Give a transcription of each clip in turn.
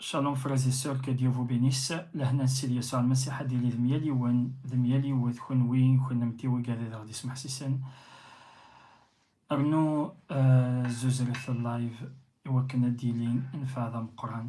Shalom frères et sœurs, que Dieu vous bénisse. Lehna Sid Yasuɛ Lmasiḥ ad d-yili d mya yiwen, d mya yiwet, kenwi, kennemti, wigad ad aɣ-d-ismeḥsisen. Rnu eh, zuzret live i wakken ad d-yili nnfeɛ d ameqqran.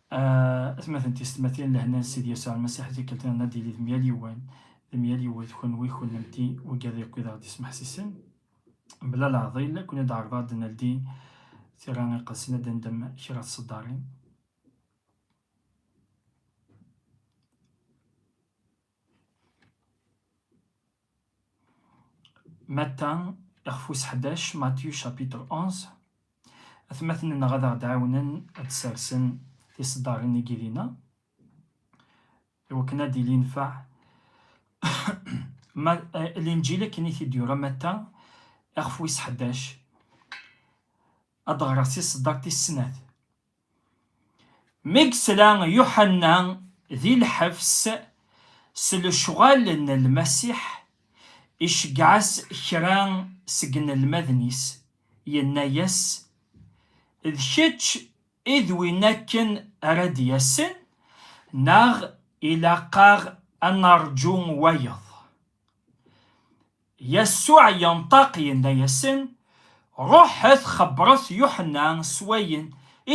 Atmaten tiyessetmatin, lehna n Sidi Yasuɛ Lmasiḥ, tikkelt-nniḍen ad d-yili d myal yiwen d myal yiwet, kunwi, kunemti, wigad yakk i d aɣ-d-yesmeḥsisen mebla leɛḍil, ad ken-id-ɛerḍeɣ ad d-neldi tira iqedsen, ad d-nendem kra tseddarin. Matta, ixf wis ḥdac, Matthieu chapitre 11, atmaten-nneɣ ad aɣ-d-ɛawnen ad d-sersen tiseddarin i yidin-a, iwakken ad d-ili yenfeɛ. Ma eh, Linǧil akken i t-id-yura Matta, ixf wis ḥdac, ad d-ɣreɣ tiseddart tis snat. Mi yesla Yuḥenna di lḥebs s lecɣal n Lmasiḥ, iceggeɛ-as kra seg yinelmaden-is, yenna-as, D kečč i d win akken ara d-yasen, neɣ ilaq-aɣ ad neṛǧu wayeḍ? Yasuɛ yenṭeq yenna-yasen, Ruḥet xebbṛet Yuḥenna s wayen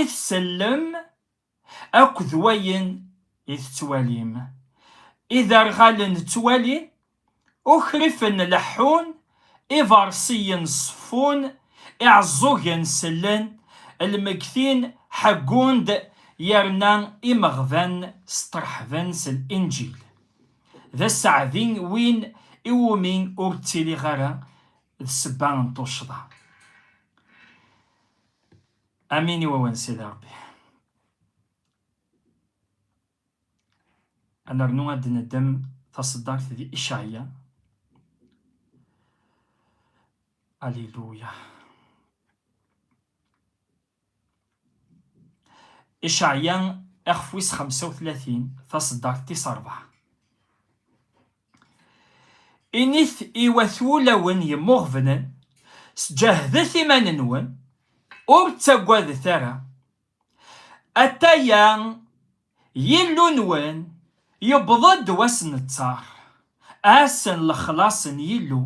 i tsellem akked wayen i tettwalim. Iderɣalen ttwalin, ukrifen leḥḥun, ibeṛsiyen seffun, iɛeẓẓugen sellen, lmegtin ḥeggun-d yerna imeɣban steṛḥben s Linǧil. D aseɛdi win iwumi ur ttiliɣ ara d sebba n tuccḍa. Amin i wawan Sidi Rebbi. Ad nernu ad d-neddem taṣeddart di Icaɛya. Alléluia. Iceɛya iɣef wis xemsa u tlatin, taṣeddart tis ṛebɛa. Init i wat wulawen yemmuɣebnen, Sǧehdet iman-nwen, ur ttagadet ara, atay-a Yillu-nwen, yewweḍ-d wass n ttaṛ, ass n lexlaṣ n Yillu,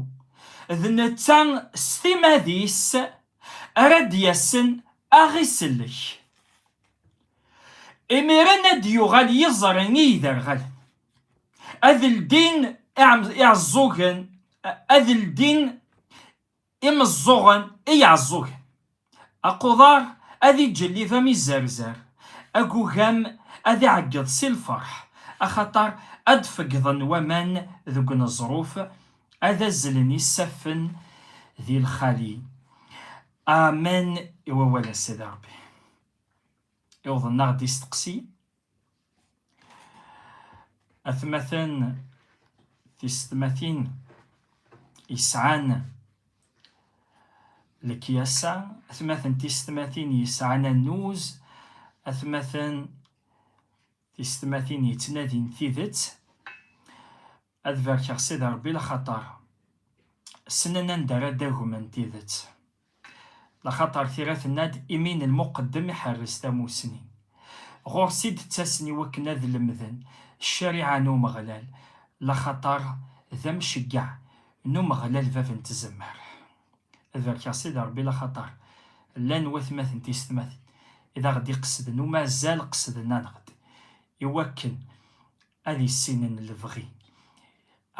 d netta s timad-is ara d-yasen a ɣ-isellek. Imiren ad d-yuɣal yiẓri i yiderɣalen, ad ldin iɛeẓẓugen, ad ldin Imeẓẓuɣen i Iɛeẓẓugen. Aquḍar ad iǧellib am izerzar, agugam ad iɛeggeḍ si lferḥ, axaṭer ad d-feggḍen waman deg uneẓruf, ad azzlen isaffen di lxali. Amen i wawal-a Sidi Rebbi. Iwḍen-aɣ-d isteqsi. atmaten tisetmatin yesɛan lekyasa atmaten tisetmatin yesɛan annuz atmaten tisetmatin yettnadin tidet Ad barkeɣ Sidi Ṛebbi laxaṭer ssnen anda ara d-agmen tidet. Laxaṭer tira tenna-d, Imi n lmuqeddem iḥerres tamusni. Ɣur-s i d-ttasen i wakken ad lemden ccariɛa n Umeɣlal, laxaṭer d amceggeɛ n Umeɣlal bab n tzemmar. Ad barkeɣ Sidi Ṛebbi laxaṭer llan watmaten tiysetmatin i d aɣ-d-iqesden, uma azal qesden-aneɣ-d i wakken ad issinen lebɣi,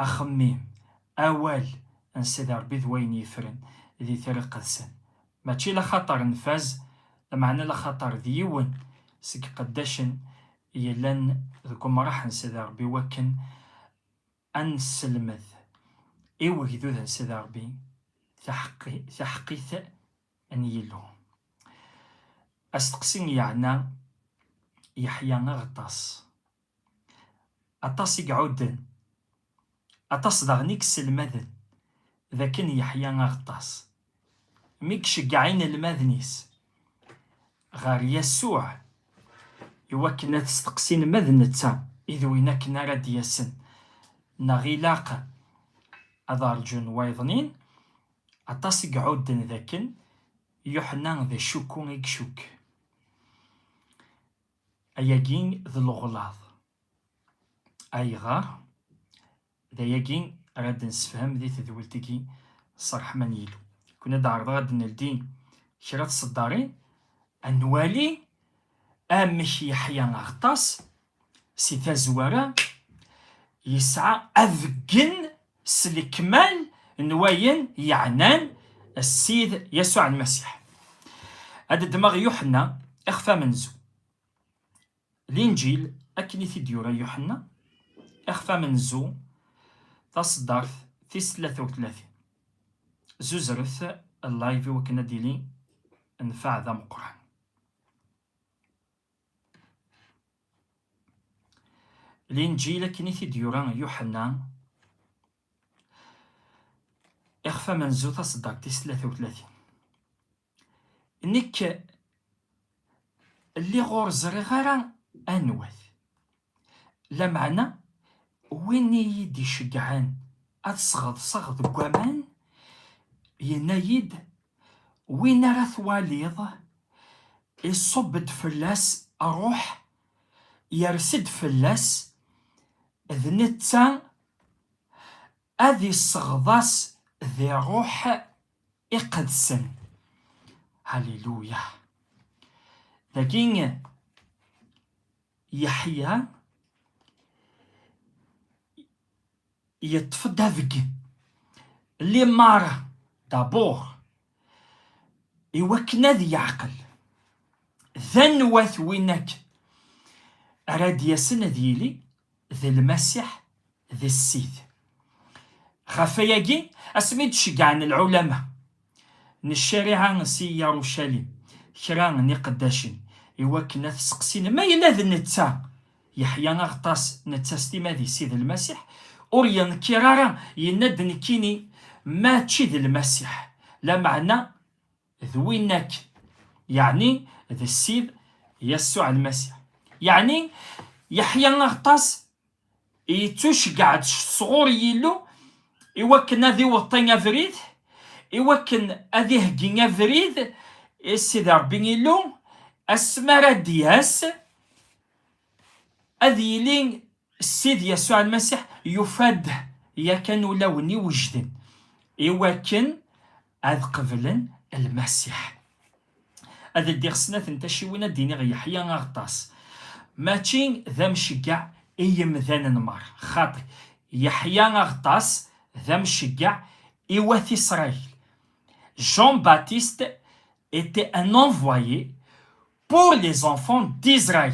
axemmim, awal n Sidi Ṛebbi d wayen yefren di Tira Iqedsen. Mačči laxaṭer nfaz, lameɛna laxaṭer d yiwen seg iqeddacen yellan deg umṛaḥ n Sidi Ṛebbi wakken ad nesselmed i wegdud n Sidi Ṛebbi taḥeqqit n Yillu. Asteqsi yeɛna Yeḥya Aɣeṭṭas. Aṭas i iɛudden, aṭas daɣen i yesselmaden, d akken Yeḥya Aɣeṭṭas, mi iceggeɛ inelmaden-is ɣer Yasuɛ i wakken ad t-steqsin ma d netta i d win akken ara d-yasen neɣ ilaq ad rǧun wayeḍnin, aṭas i iɛudden d akken Yuḥenna d acukku i icukk. Ayagi d lɣlaḍ. Ayɣer? D ayagi ara d-nessefhem di tedwilt-agi s ṛṛeḥma n Yillu. Kkun ad d-ɛerḍeɣ ad d-neldi kra tseddarin, ad nwali amek Yeḥya Aɣeṭṭas, si tazwara, yesɛa abeggen s lekmal n wayen yeɛnan Ssid Yasuɛ Lmasiḥ. Ad ddmeɣ Yuḥenna ixef amenzu. Linǧil akken i t-id-yura Yuḥenna ixef amenzu taṣeddart tis tlata u tlatin. Zuzret live i wakken ad d-yili nfeɛ d ameqqran. Linǧil akken i t-id-yura Yuḥenna, ixef amenzu taṣeddart tis tlata u tlatin. Nekk lliɣ ur ẓriɣ ara anwa-t. Lameɛna, win i yi-d-iceggɛen ad sɣeḍseɣ deg waman, yenna-yi-d, Win ara twaliḍ, iṣubb-d fell-as ṛṛuḥ, yers-d fell-as, d netta ad isɣeḍ-as di ṛṛuḥ iqedsen. Haliluya! Dagi, Yeḥya yeṭṭef-d abeggi limara dabur iwakken ad yeɛqel d anwa-t win akken ara d-yasen ad yili d lmasiḥ d ssid. Ɣef wayagi, asmi i d-ceggɛen lɛulama n ccariɛa si Yarucalim kra n iqeddacen i wakken ad t-seqsin ma yella d netta, Yeḥya Aɣeṭṭas netta s timmad-is i d Lmasiḥ, ur yenkiṛ ara, yenna-d nekkini mačči d Lmasiḥ, lameɛna d winna-k, yeɛni d ssid Yasuɛ Lmasiḥ. Yeɛni, Yeḥya Aɣeṭṭas Yettuceggeɛ-d sɣur Yillu i wakken ad iweṭṭi abrid, i wakken ad iheggi abrid i Sidi Ṛebbi Illu, asmi ara d-yas, ad yili Ssid Yasuɛ Lmasiḥ yufa-d yakan ulawen iwejden, i wakken ad qeblen lmasiḥ. Ad ldiɣ snat n taciwin ad d-iniɣ Yeḥya Aɣeṭṭas mačči d amceggeɛ i yemdanen merra, xaṭi, Yeḥya Aɣeṭṭas d amceggeɛ i wat Isṛayil. Jean-Baptiste était un envoyé pour les enfants d'Israël.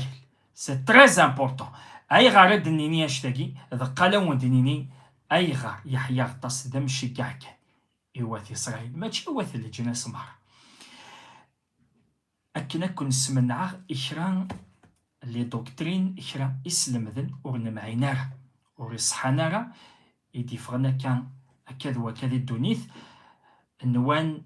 C'est très important. Ayɣer ad d-nini anect-agi? D qqal ad wen-d-nini ayɣer Yeḥya Aɣeṭṭas d amceggeɛ kan i wat Isṛayil, mačči i wat leǧnas meṛṛa. Akken ad ken-smenɛeɣ i kra les doctrines, kra islemden ur nemɛin ara, ur iṣeḥḥan ara, i d-iffɣen akka akka d wakka di ddunit, nwan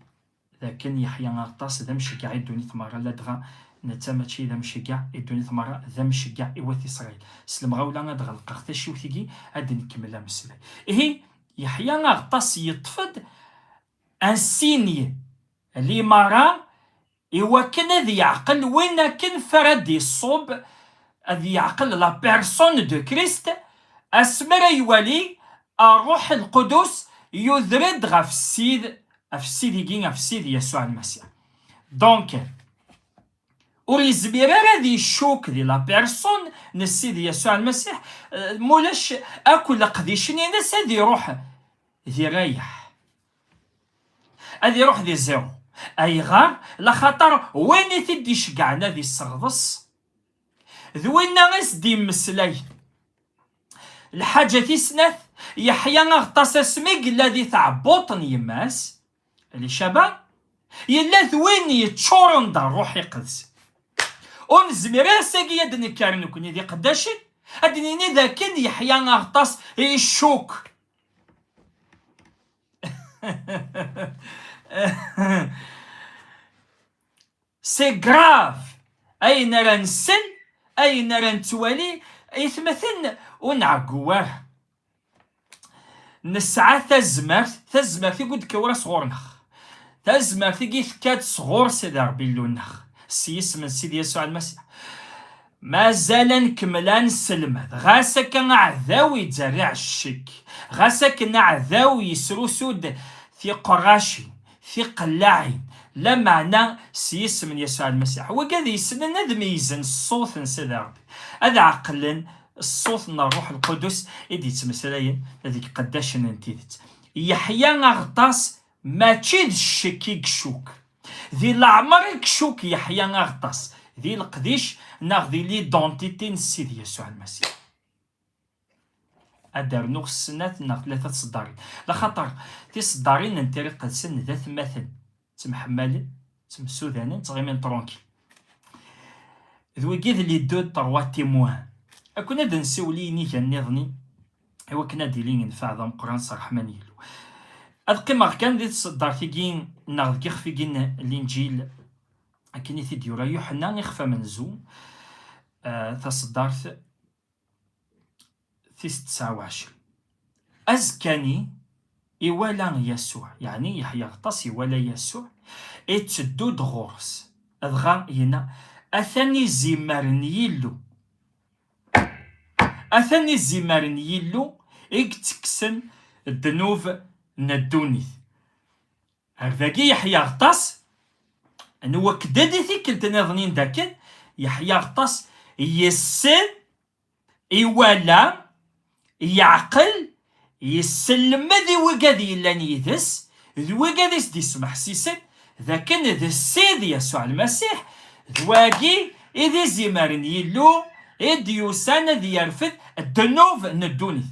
d akken Yeḥya Aɣeṭṭas d amceggeɛ i ddunit meṛṛa, ladɣa netta mačči d amceggeɛ i ddunit meṛṛa, d amceggeɛ i wat Isṛayil. S lemɣawla ad ɣelqeɣ taciwt-agi, ad d-nkemmel ameslay. Ihi, Yeḥya Aɣeṭṭas yeṭṭef-d ansigne limara i wakken ad yeɛqel win akken fara d-iṣub, ad yeɛqel la personne de Christ, asmi ara iwali Rruḥ Lqudus yuder-d ɣef Ssid, ɣef Ssid-igi, ɣef Ssid Yasuɛ Lmasiḥ. Donc. Ur yezmir ara ad icuk di la persun n Sidi Yasuɛ Lmasiḥ, mulac akk leqdicen-ines ad iruḥ di rrayeḥ, ad iruḥ di zéro. Ayɣer? Laxaṭer win i t-id-iceggɛen ad isseɣḍes, d winna i s-d-yemmeslayen. Lḥaǧa tis snat, Yeḥya aɣeṭṭas asmi yella di tɛebbuṭ n yemma-s, li Caban yella d win yeččuren d ṛṛuḥ iqedsen. Ur nezmir ara sagi ad d-nekker nekkni d iqeddacen, ad d-nini d akken Yeḥya Aɣeṭṭas icukk. C'est grave ayen ara nsel, ayen ara nettwali, itmaten ur nɛeggu ara. nesɛa tazmert tazmert i d-kawra sɣur-neɣ tazmert i d-tekka-d sɣur Sidi Rebbi Illu-nneɣ s yisem n Sidi Yasuɛ Lmasiḥ mazal ad nkemmel ad nesselmed ɣas akka aɛdaw yettderriɛ ccek ɣas akken aɛdaw yesrusu-d tiqerracin Tiqellaɛin, lameɛna s yisem n Yasuɛ Lmasiḥ. Wagi ad yeslen ad meyyzen ṣṣut n Sidi Ṛebbi, ad ɛeqlen ṣṣut n Ṛṛuḥ Lqudus i d-yettmeslayen d iqeddacen n tidet. Yeḥya Aɣeṭṭas mačči d ccek i icukk. Di leɛmer i icukk Yeḥya Aɣeṭṭas, di leqdic neɣ di lidentiti n Sidi Yasuɛ Lmasiḥ. ad d-rnuɣ snat neɣ tlata tseddarin, d axaṭer tiseddarin n Tira Iqedsen d atmaten, ttemḥemmalen, ttemsudanen, ttɣimin trunkil. D wigi d les-deux trois témoins. Ad kkun ad d-nsiwel i yiniga nniḍen-i, i wakken ad d-ilin yenfeɛ d ameqqran s ṛṛeḥma n Yillu. Ad qqimeɣ kan di tseddart-agi neɣ deg yixef-agi n Linǧil, akken i t-id-yura Yuḥenna, ixef amenzu, taseddart, tis tesɛa u ɛecrin. Azekka-nni, iwala Yasuɛ, yeɛni Yeḥya Ɣeṭṭas iwala Yasuɛ, itteddu-d ɣur-s, dɣa yenna, Atan izimer n Yillu! Atan izimer n Yillu i yettekksen ddnub n ddunit! Ar dagi yeḥya aṭas n wakedad i tikkelt niḍen i dakken yeḥya aṭas yessen, iwala, yeɛqel, yesselmed i wigad yellan yid-s d wigad i s-d-yesmeḥsisen d akken d Ssid Yasuɛ Lmasiḥ, d wagi i d izimer n Yillu i d-yusan ad yerfed ddnub n ddunit.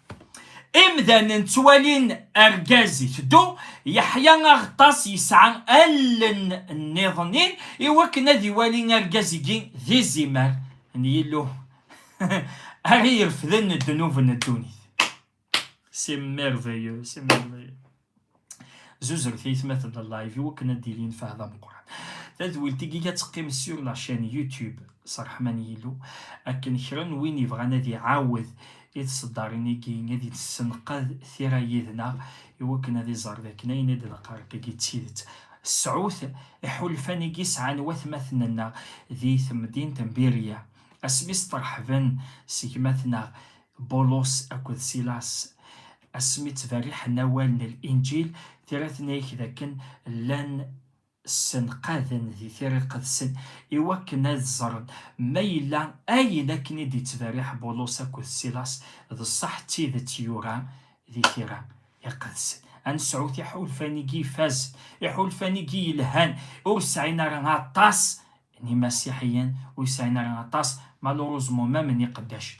Imdanen ttwalin argaz iteddu, yeḥya aɣeṭṭas yesɛa allen nniḍenin i wakken ad iwali argaz-igi d izimer n Yillu ara irefden ddnub n ddunit. C'est merveilleux, c'est merveilleux. Zuzret aytmaten n live i wakken ad d-ilin fahda meqqran. Tadwilt i la teqqim sur la chaîne YouTube s ṛṛeḥma n Yillu, akken kra n win yebɣan ad iɛawed i tseddarin-agi ad yessenqad tira yid-neɣ i wakken ad iẓer dakken ayen i d-neqqaṛ-agi d tidet. Sɛut iḥulfan-agi i sɛan watmaten-nneɣ di temdint n Birya, asmi sṭerḥben s gma-tneɣ Bulos akked Silas, asmi ttberriḥen awal n Linǧil, tira-ten-ak dakken llan ssenqaden di tira iqedsen iwakken ad ẓren ma yella ayen akken i d-ittberriḥ Bulus akked Silas d ṣṣeḥ d tidet yura di tira iqedsen. Ad nesɛu tiḥulfan-igi ifazen, iḥulfan-igi yelhan, ur sɛin ara aṭas n Imasiḥiyen, ur sɛin ara aṭas malheureusement même n iqeddacen.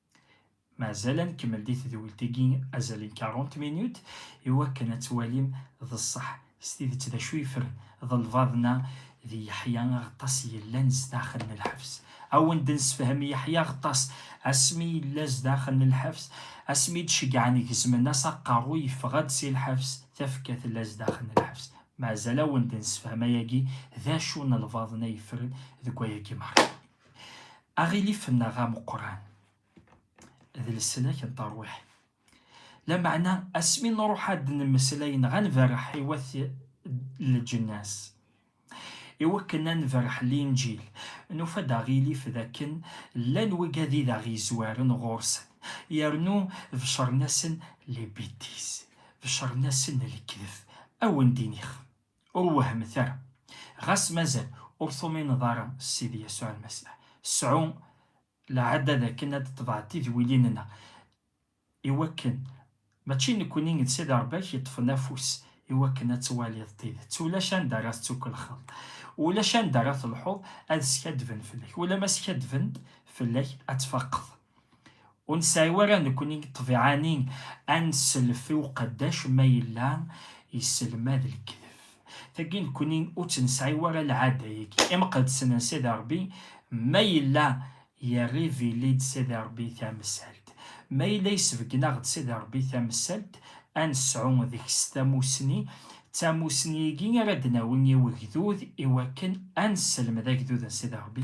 Mazal ad nkemmel di tedwilt-agi azal n 40 minut iwakken ad twalim d ṣṣeḥ s tidet d acu yefren d lbaḍna d Yeḥya Aɣeṭṭas yellan zdaxel n lḥebs. Awen-d nessefhem Yeḥya Aɣeṭṭas asmi yella zdaxel n lḥebs, asmi i d-ceggɛen gezmen-as aqerru yeffeɣ-d si lḥebs, tafekka tella zdaxel n lḥebs. Mazal awen-d nessefhem ayagi d acu n lbaḍna yefren deg wayagi merra. Aɣilif-nneɣ ameqqran d leslak n terwiḥt. Lameɛna asmi nruḥ ad d-nemmeslay neɣ ad nberreḥ i wat leǧnas, iwakken ad nberreḥ Linǧil, nufa-d aɣilif d akken llan wigad i d aɣ-yezwaren ɣur-sen, yernu beccren-asen les bêtises, beccren-asen lekdeb, awendin-ix. Ur wehhmet ara, ɣas mazal ur tumineḍ ara s Sidi Yasuɛ Lmasiḥ, sɛu lɛada d akken ad d-tḍeɛed tidwilin-nna, i wakken mačči nekkni d Sidi Rebbi-k yeṭṭfen afus i wakken ad twaliḍ tidet. Ulac anda ara tettukelxeḍ, ulac anda ara telḥuḍ ad skaddben fell-ak. Ula ma skaddben-d fell-ak, ad tfaqeḍ. Ur nesɛi wara nekkni deg ṭṭbiɛa-nni ad nsellef i uqeddac ma yella yesselmad lekdeb. Tagi nekkni ur tt-nesɛi wara lɛada-agi imqeddsen n Sidi Ṛebbi, ma yella yerrivili-d Sidi Ṛebbi tamsalt, ma yella yesbeggen-aɣ-d Sidi Ṛebbi tamsalt, ad nesɛu deg-s tamusni, d tamusni-agi ara d-nawi i wegdud i wakken ad nesselmed agdud n Sidi Ṛebbi,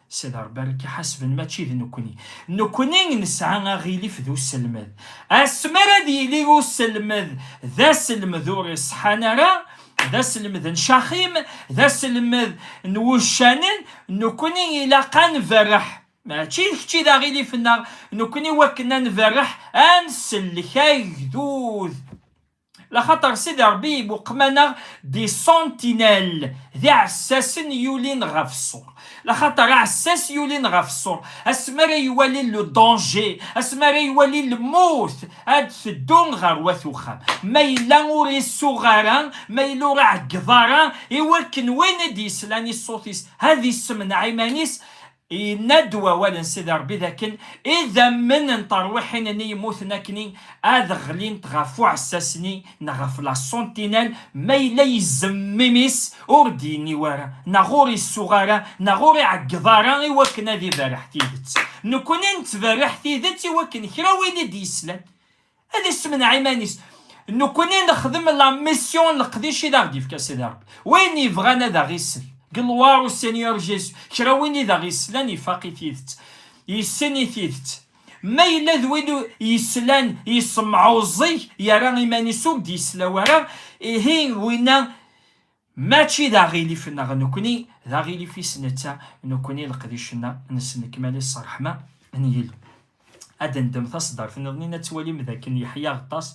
Sed Rebbi ara k-iḥasben mačči d nekkni. Nekkni nesɛa aɣilif d uselmed. Asmi ara d-yili uselmed d aselmed ur iṣeḥḥan ara, d aselmed n caxim, d aselmed n wuccanen, nekkni ilaq ad nberreḥ. Mačči d kečč i d aɣilif-nneɣ, nekkni iwakken ad nberreḥ, ad nsellek agdud. Laxaṭer Sidi Ṛebbi ibuqem-aneɣ des sentinelles, d iɛessasen yulin ɣef ṣṣur. Laxaṭer aɛessas yulin ɣef ṣṣur, asmi ara iwali le danger, asmi ara iwali lmut, ad d-teddu ɣer wat uxxam. Ma yella ur isuɣ ara, ma yella ur iɛeggeḍ ara, iwakken win i d-yeslan i ṣṣut-is ad issemneɛ iman-is, Yenna-d wawal n Sidi Ṛebbi dakken idammen n terwiḥin-nni yemmuten akk-nni ad ɣlint ɣef uɛessas-nni neɣ ɣef la Sentinelle ma yella izemm imi-s ur d-yenni wara neɣ ur isuɣ ara neɣ ur iɛeggeḍ ara i wakken ad iberreḥ tidet. Nekkni nettberriḥ tidet i wakken kra win i d-yeslan Ad issemneɛ iman-is. Nekkni nexdem la mission n leqdic i d aɣ-d-ifka Sidi Rebbi. Win yebɣan ad aɣ-isel. Gloire au Seigneur Jésus. Kra win i d aɣ-islan ifaq i tidet. Yessen i tidet. Ma yella d win yeslan yessemɛuẓẓeg, yerra iman-is ur d-yesla wara, ihi winna. Mačči d aɣilif-nneɣ nekkni, d aɣilif-is netta, nekkni leqdic-nneɣ nnes lekmal-is s ṛṛeḥma n Yillu. Ad d-neddem taṣeddart niḍen-in, ad twalim d akken Yeḥya Aɣeṭṭas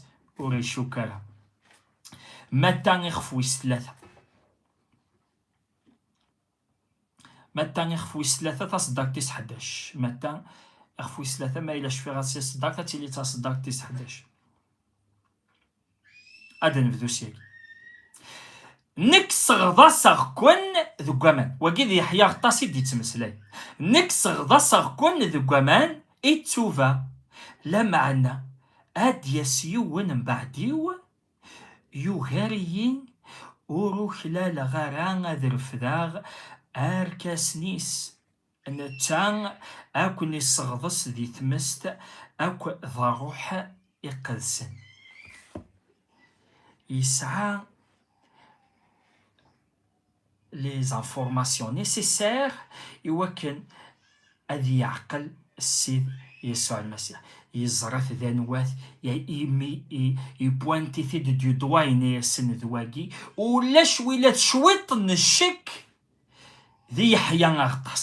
ur icukk ara. Matta ixef wis tlata. Matta ixef wis tlata taseddart tis ḥdac. Matta ixef wis tlata ma yella cfiɣ ad taseddart ad tili taseddart tis ḥdac. Ad nebdu syagi. Nekk seɣḍaseɣ-ken deg waman. Wagi d Yeḥya Aɣeṭṭas i d-yettmeslay. Nekk seɣḍaseɣ-ken deg waman i ttuba, lameɛna ad d-yas yiwen mbeɛd-iw, Yugar-iyi, ur uklaleɣ ara ad refdeɣ arkasen-is. Netta ad ken-isseɣḍes di tmest akk d Ṛṛuḥ Iqedsen. Yesɛa. les informations nécessaires iwakken ad yeɛqel Ssid Yesɛu Lmasiḥ. Yeẓra-t d anwat, imi ipuanti-t-id du doigt yenna-yasen d wagi, ulac wila d cwiṭ n ccek di Yeḥya Aɣeṭṭas.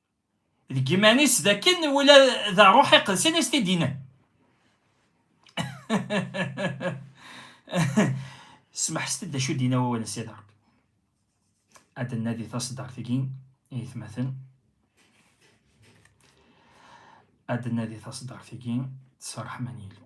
deg iman-is d akken wala d ṛṛuḥ iqedsen i s-t-id-yennan smeḥset-d d acu d-yenna wawal n Sidi Ṛebbi ad d-nnadi taṣeddart-agi i yetmaten ad d-nnadi taṣeddart-agi s ṛṛeḥma n Yillu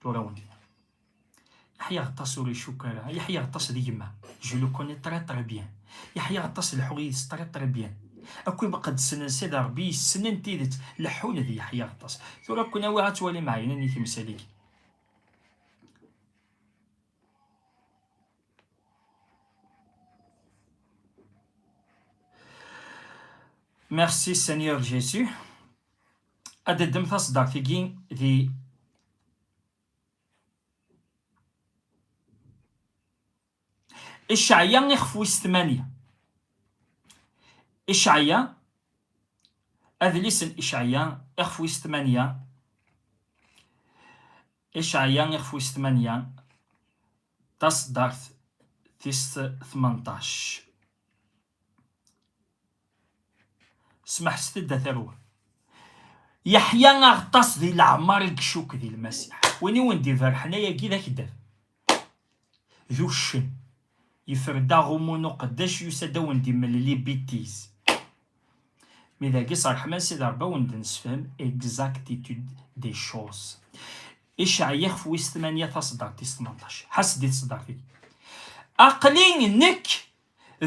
tura wen Yeḥya aṭas ur icukk ara Yeḥya aṭas d gma je le connais très très bien Yeḥya aṭas leḥḥuɣ yid-s très très bien akk imqeddsen n Sidi Ṛebbi yessnen tidet leḥḥun d Yeḥya aṭas tura ken awiɣ ad twalim ɛeynen i timsal-agi Merci Seigneur Jésus. ad d-ddem taṣeddart-agi di Icɛaya ixef wis tmanya. Icɛaya, adlis n Icɛaya ixef wis tmanya. Icɛaya ixef wis tmanya, taṣeddart tis tmenṭac. Smeḥset-d a tarwa. Yeḥya aɣeṭṭas di leɛmer i gcuk di lmasiḥ. Win i wen-d-iberḥen ayagi d akeddab. D uccen. Yefred aɣummu n uqeddac yusa-d a wen-d-imellel ibitiz. Mi dagi s ṛṛeḥma n Sidi Ṛebbi a wen-d-nessefhem exactitude des choses. Iceɛya ixef wis tmanya taṣeddart tis tmenṭac. Ḥess-d i tṣeddart-agi. Aql-i nekk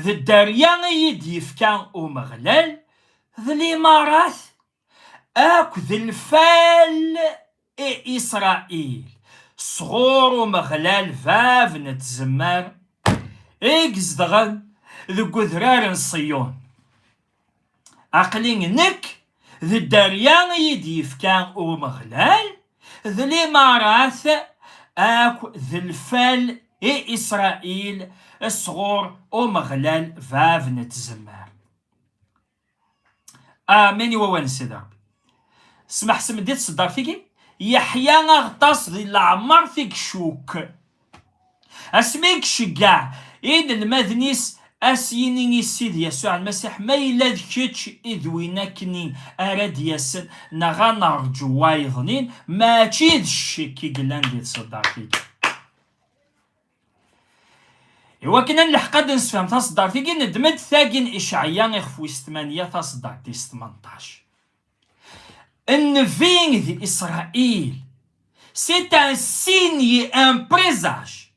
D dderya i yi-d-yefka Umeɣlal, d limarat akk d lfal i Isṛail, sɣur Umeɣlal bab n tzemmar, i izedɣen deg udrar n Ṣiyun. Aqli nekk d dderya i yi-d-yefka Umeɣlal, d limarat akk d lfal i Isṛail sɣur Umeɣlal Bab n tzemmar. Amen i wawal n Sidi Ṛebbi. Smeḥsem-d i tseddart-agi, yeḥya aɣtas di leɛmeṛt i icukk. Asmi i iceggeɛ inelmaden-is a s-yini i Ssid Yasuɛ Lmasiḥ, Ma yella d kečč i d win akk-nni ara d-yasen, neɣ a neṛǧu wayeḍnin, mačči d ccekk i yellan di tṣeddart-agi. I wakken ad nleḥq ad d-nessefhem taṣeddart-agi, neddem-d tagi n Iceɛya ixef wis tmanya taṣeddart tis tmenṭac. Une vigne d'Israël. C'est un signe et un présage.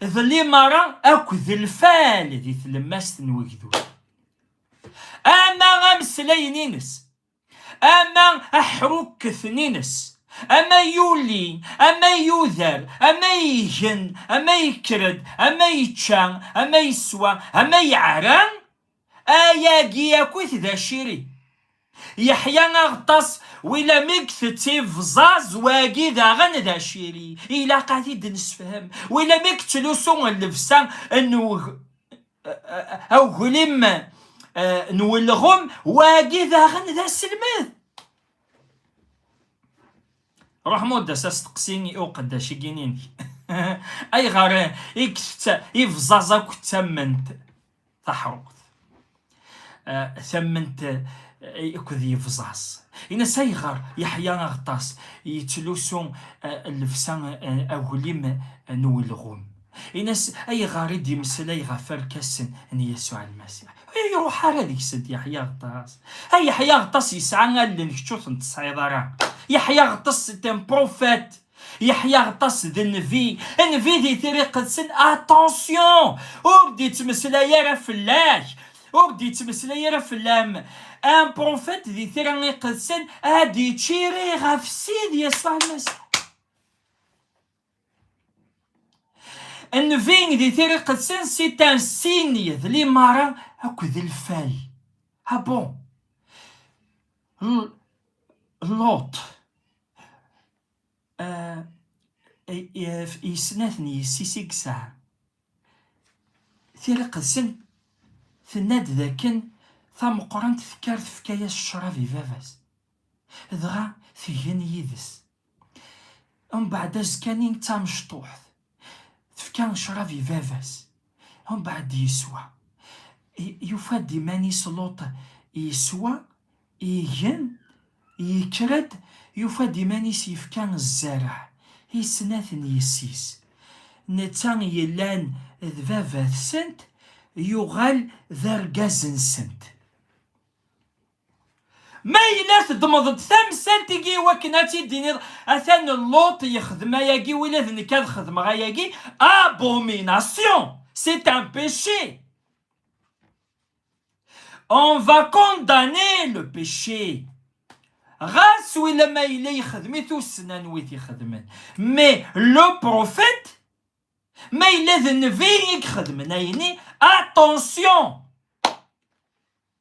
d limara akked lfal di tlemmast n wegdud ama ameslayen-ines ama aḥrukketen-ines ama yuli ama yuder ama igen ama yekker-d ama yečča ama yeswa ama yeɛran Ayagi akkit d aciri. Yeḥya Aɣeṭṭas, wila mi getetti bẓaẓ wagi daɣen d aciri, ilaq ad t-id nesefhem, wila mi gettlusu llebsa n uglim n ulɣem wagi daɣen d aselmed. Ruḥ mudd-as asteqsi i uqeddac igini-inek ayɣer i getett ibẓaẓ akk d tamment taḥruqt eh, tamment eh, akked yebẓaṣ ines ayɣer yeḥya aɣeṭṭas yettlusu eh, llebsa aglim n ulɣum ines ayɣer i d-yemmeslay ɣef arkasen n yasuɛ lmasiḥ iruḥ ara deg-sent yeḥya aɣeṭṭas ay yeḥya aɣeṭṭas yesɛa allen kečč ur ten-tesɛiḍ ara yeḥya aɣeṭṭas c'est un prophète Yeḥya Ɣeṭṭas d nnbi, nnbi di tira iqedsen, attention! ur d-ittmeslay ara fell-ak, ur d-ittmeslay ara fell-am, un prophète di tira iqedsen ad d-iččiri ɣef Sidi Yasuɛ Lmasiḥ. Nnbi di tira iqedsen c'est un signe d limara akked lfal. Ah bon! Luṭ i snat n yessi-s i yesɛa. Tiriqedsen tenna-d d akken tameqqrant tekker tefka-yas ccrab i baba-s, dɣa tgen yid-s. Mbeɛd azekka-nni d tamecṭuḥt, tefka ccrab i baba-s, mbeɛd yeswa. Yufa-d iman-is Luṭ yeswa, igen, yekker-d, yufa-d iman-is yefka zzereɛ i snat n yessi-s. Netta yellan d baba-tsent, yuɣal d argaz-nsent. Ma yella teddmeḍ-d tamsalt-igi iwakken ad t-id-tiniḍ, atan Luṭ yexdem ayagi, wila d nekk ad xedmeɣ ayagi, abomination! C'est un péché! On va condamner le péché! Ɣas wila ma yella yexdem-it ussen anwi t-ixedmen. Mais le prophète, ma yella d nnbi i ixedmen ayeni, attention!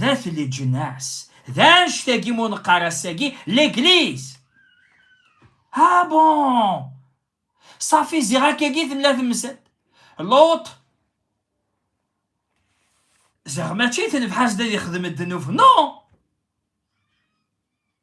D at leǧnas. D annect-agi mu neqqar ass-agi legliz. Ha bon! Safi ziɣ akkagi tella temsalt. Luṭ ziɣ mačči tenfeḥ-as-d ad ixdem ddnub. Non!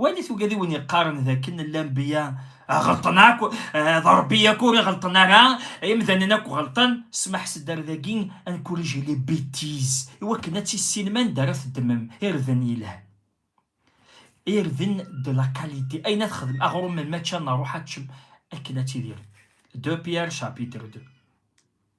Walit uga d iwen yeqqaren d akken llanbiya ɣelṭen akk, d Rebbi yakk ur iɣelṭen ara, imdanen akk ɣelṭen, smaḥ s dder dagi, encourigez les bêtises, i wakken ad tissinem anda ara teddmem irden yelhan, irden de la qualité, ayen ad xedmem, aɣrum, mačči ad nruḥ ad teččem, akken ad tidirem. De Pierre, chapitre 2.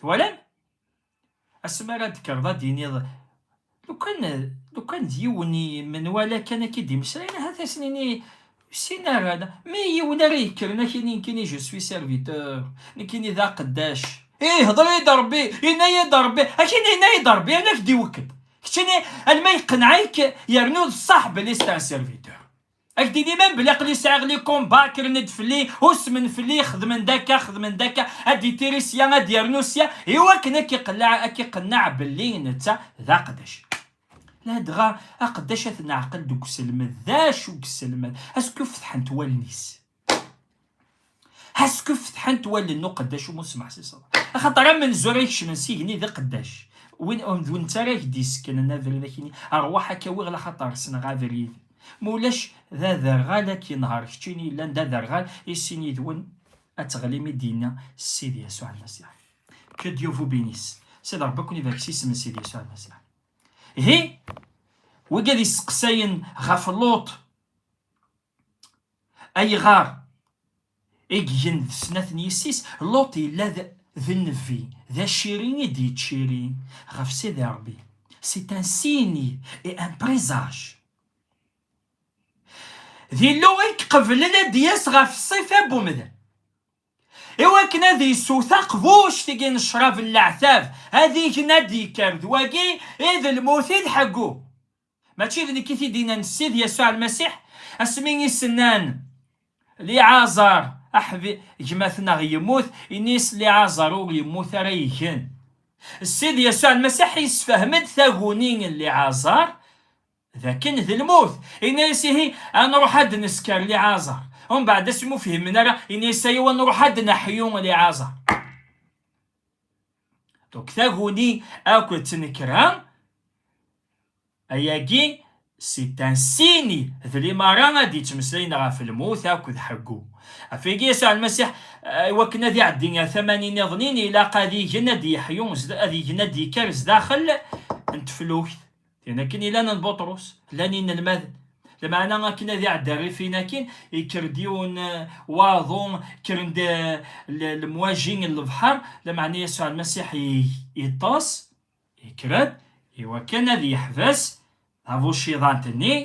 twalam asmi ara d-kkreḍ ad d-iniḍ lukan lukan d yiwen menwala kan akka i d-imeslayen ahat ad sen-ini sin ara mi yiwen ara yekkren ak ini nekkini je suis serviteur nekkini d aqeddac ih hḍer-iyi-d Rebbi yenna-yi-d Rebbi akini yenna-yi-d Rebbi ala ak-d-iwekked keččini alma yeqneɛ-ik yernu d ṣaḥ belli c'est un serviteur Ak d-ini man belli aqli sɛiɣ li combat kkren-d fell-i, usmen fell-i, xedmen-d akka, xedmen-d akka, ad d-ittiri sya, ad d-yernu sya, iwakken ad k-iqelleɛ, ad k-iqenneɛ belli netta d aqeddac. Ladɣa, aqeddac ad t-neɛqel deg uselmed, d acu i yesselmed? As-kufetḥent wallen-is. Hasku fetḥant wallen n uqeddac umu smaḥ si ṣṣeḍ. Axaṭer amenzu ara ikecmen s igenni d iqeddac. Win d win ttara ak d-isekknen abrid akini, rwaḥ akka wiɣ laxaṭer ssneɣ abrid. Ma ulac d aderɣal ad k-inher keččini yellan d aderɣal i sin yid-wen ad teɣlim i d-yenna Sidi Yasuɛ Lmasiḥ. Que Dieu vous bénisse. Sidi Ṛebbi ad ken-ibarek s isem n Sidi Yasuɛ Lmasiḥ. Ihi, wigi ad isteqsayen ɣef Luṭ, Ayɣer i ggen d snat n yessi-s? Luṭ yella d nnbi, d aciri i d-yettciri ɣef Sidi Ṛebbi. C'est un signe et un présage. D Illu i iqeblen ad d-yas ɣef ṣṣifa n umdan, i wakken ad yessew taqbuct-agi n ccrab n leɛtab, ad igen ad d-yekker d wagi i d lmut i d ḥeggu. Mačči d nekk i t-id-inan Ssid Yasuɛ Lmasiḥ, asmi i s-nnan, Liɛazar, aḥbi, gma-tneɣ yemmut, ini-as, Liɛazar ur yemmut ara igen. Ssid Yasuɛ Lmasiḥ yessefhem-d taguni n Liɛazar d akken d lmut, yenna-as, Ihi, ad nruḥ ad d-nesker Liɛazar. Umbeɛd asmi ur fhimen ara, yenna-as, Ayaw, ad nruḥ ad d-neḥyu Liɛazar. donc taguni akk d tnekra ayagi c'est un signe d limara ad yettmeslayen ɣef lmut akk d ḥeggu ɣef wigi Yasuɛ Almasiḥ iwakken ad iɛeddi ar tamanin niḍen-in ilaq ad igen ad yeḥyu ad igen ad yekker sdaxel n teflukt Tin akken ilan n Buṭrus, llan inelmaden. Lameɛna akken ad iɛedda rrif-in akin, ikker-d yiwen waḍu, kkren-d lemwaji n lebḥer, lameɛna Yasuɛ Lmasiḥ iṭṭes, ikker-d, iwakken ad yeḥbes tabuciḍant-nni,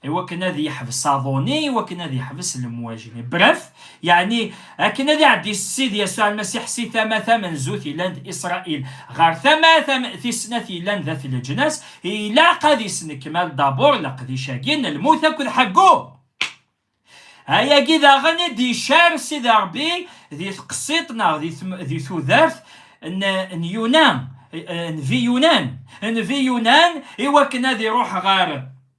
iwakken ad yeḥbes aḍu-nni, iwakken ad yeḥbes lemwaj-nni. Bref, yeɛni akken ad iɛeddi Ssid Yasuɛ Lmasiḥ si tama tamenzut yellan d Isṛail ɣer tama tis snat yellan d At Leǧnas, ilaq ad isnekmal dabur leqdic-agi n lmut akked ḥeggu! Ayagi daɣen i d-icar Sidi Ṛebbi di tqessiṭ neɣ di tudert n Yuna, Nbi Yunan, Nbi Yunan, iwakken ad iṛuḥ ɣer.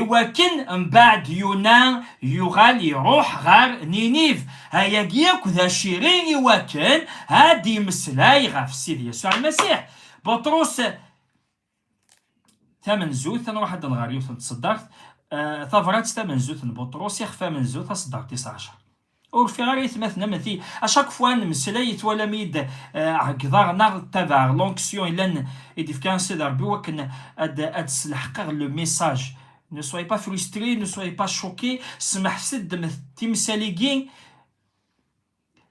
Iwakken mbaɛd Yuna yuɣal iruḥ ɣer Niniv. Ayagi akk d aciri iwakken ad d-yemmeslay ɣef Sidi Yasuɛ Lmasiḥ. Buṭrus, Tamenzut, ad nruḥ ad d-nɣer yiwet n tseddart, Tabrat tamenzut n Buṭrus, Ixef amenzu, taseddart tis ɛecṛa. Ur rfiɣ ara aytmaten am ti. A chaque fois nemmeslay twalam-iyi-d ɛeggḍeɣ neɣ ttabaɛeɣ l'onction yellan i d-ifka Sidi Rebbi wakken ad d-sleḥqeɣ le message. Ne soyez pas frustrés, ne soyez pas choqués, smeḥ-tt-id ddmet timsal-igi,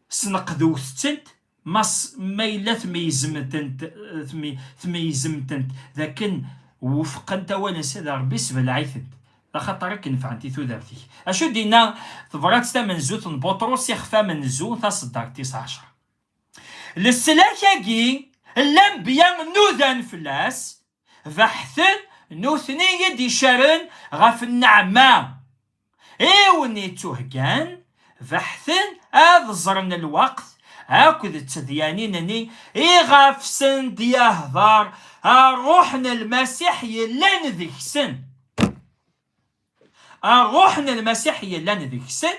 sneqdewt-tent, Mass ma yella tmeyyzemtent tmeyyzemtent d akken wufqent awal-nnes ad Rebbi ssbelɛitent d axaṭer i k-nefɛent i tudert-ik. Acu d-inna tebrat tamenzut n Buṭrus ixef amenzu taṣeddart tis ɛecṛa? Leslak-agi n lanbya nudan fell-as beḥten nutni i d-icaren ɣef nneɛma i wen-ittuheggan, beḥten ad ẓren lweqt akked d tedyanin-nni iɣef sen-d-yehder Rruḥ n Lmasiḥ yellan deg-sen. Rruḥ n Lmasiḥ yellan deg-sen.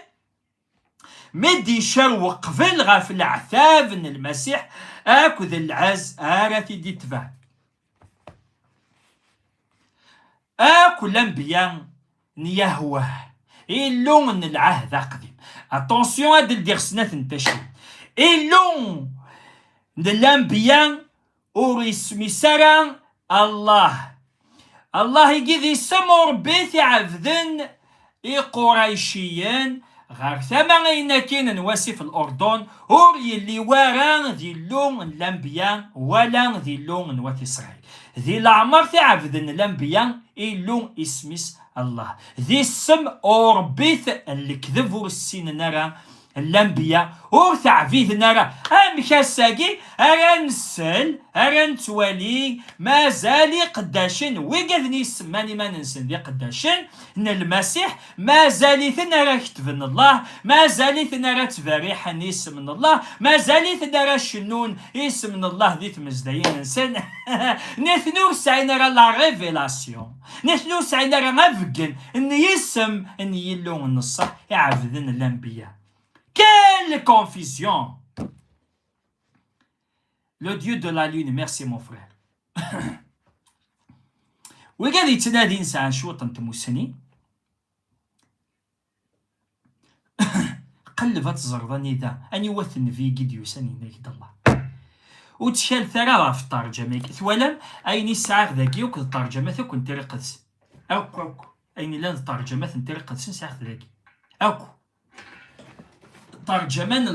mi d-icer weqbel ɣef leɛtab n Lmasiḥ akked lɛez ara t-id-itbeɛ. Akk lanbiya n Yahweh, Illu n Lɛehd Aqdim. Attention ad d-ldiɣ snat n tacciwin. Illu n lanbiya ur ismis ara Allah. Allah i di isem Rebbi t-iɛebden Iqurayciyen ɣer tama ayen akin n wasif n Urdun ur yelli wara d Illu n Lambiya wala d Illu n Wat Isṛayil. Di leɛmer t-iɛebden Lambiya Illu isem-is Allah. D isem urebbit n lekdeb ur ssinen ara Lambiya ur teɛbiden ara. Amek ass-agi ara nsel, ara nettwali mazal iqeddacen, wiggaden i semman iman-nsen d iqeddacen n Lmasiḥ, mazal-iten ara kettben Allah, mazal-iten ara ttberriḥen isem n Allah, mazal-iten ara cennun isem n Allah di tmezdayin-nsen? Nitni ur sɛin ara la révélation. Nitni ur sɛin ara abeggen n yisem n Yillu n ṣṣeḥ i ɛebden lanbiya. Quelle confusion! Le dieu de la lune, merci mon frère. Wigi ad yettnadin sɛan cwiṭ n tmussni. Qelleb ad teẓreḍ anida, aniwa-t nnbi i d-yusan yenna-ak-d Allah. Ur ttkalet ara ɣef ṭerǧama-agi. Twalam ayen i sɛiɣ dagi akk d ṭerǧamat akk n Tira Iqedsen. Akk akk ayen yellan d ṭerǧamat n Tira Iqedsen sɛiɣ-t dagi. Akk. Ṭerǧama n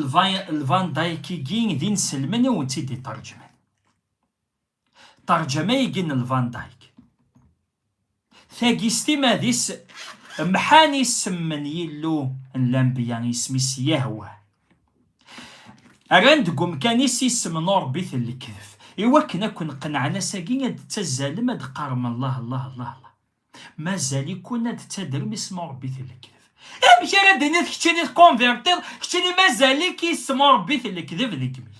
Lvan Dayk-agi d inselmen i wen-tt-id-iṭerǧman. Tarǧama-agi n Lvan Dyke, tagi s timad-is mḥan isem n Yillu n lanbeyya, isem-is Yahwa. Rran deg umkan-is isem n urebbit n lekdeb. I wakken ad ken-qenɛen ass-agi ad d-ttazzalem ad d-qqarem Allah, Allah, Allah, Allah. Mazal-ikun ad d-ttadrem isem urebbit n lekdeb. Amek ara d-tiniḍ keččini tkonvirtiḍ, keččini mazal-ik isem urebbit n lekdeb deg imi-k?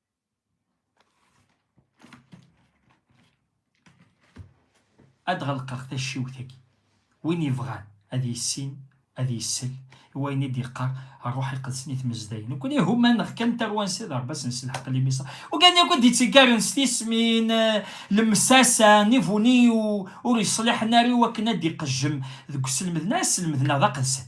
ad ɣelqeɣ tacciwt-agi win yebɣan ad yissin ad yissel i wayen i d-yeqqar ṛṛuḥ iqedsen i tmezdayin nekkni ihumaneɣ kan tarwansa d ṛṛbas n selḥeq limisa ugan akk i d-itteggaren s tismin lemsasa nivuni ur yeṣliḥen ara i wakken ad d-iqejjem deg uselmed neɣ aselmed neɣ d aqedsen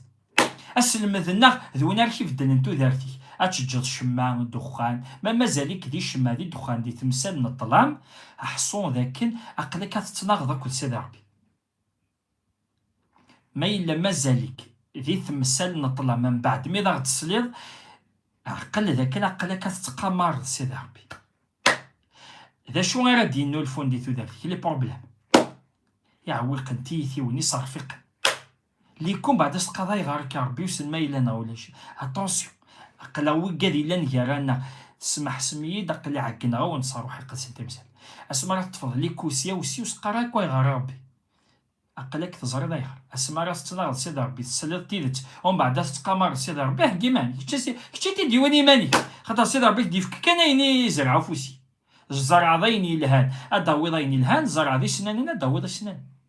Aselmed-nneɣ d win ara k-ibeddlen tudert-ik, ad teǧǧeḍ ccemma, ddexxan, ma mazal-ik di ccemma di ddexxan di temsal n ṭṭlam, ḥṣu d akken aql-ik ad tettnaɣeḍ akked Sidi Ṛebbi. Ma yella mazal-ik di temsal n ṭṭlam mbeɛd mi d aɣ-d-tesliḍ, ɛqel d akken aql-ak ad tettqamareḍ Sidi Ṛebbi. D acu ara d-yennulfun di tudert-ik? Les problèmes iɛewwiqen, tiyitiwin, iṣerfiqen. Likum baɛd as-tqaḍay ɣer akka Rebbi usen ma yella neɣ ulac. Attention! Aql-aɣ wiggad yellan gar-aneɣ. Tesmeḥsem-iyi-d aql-i ɛeggneɣ-awen s ṛṛuḥ iqedsen timsal. Asmi ara teṭṭfeḍ Liku sya u sya ur s-qqar ara akk ayɣer a Rebbi. Aql-ak teẓriḍ ayɣer. Asmi ara tettnaɣeḍ Sidi Rebbi tesliḍ tidet umbaɛd ad tettqamareḍ Sidi Rebbi heggi iman-ik. Kečč i t-id-yewwin iman-ik. Axaṭer Sidi Rebbi k-d-yefk kan ayen i izreɛ ufus-ik. Tzerɛeḍ ayen yelhan ad d-tawiḍ ayen yelhan, tzerɛeḍ isnanen ad d-tawiḍ isnanen.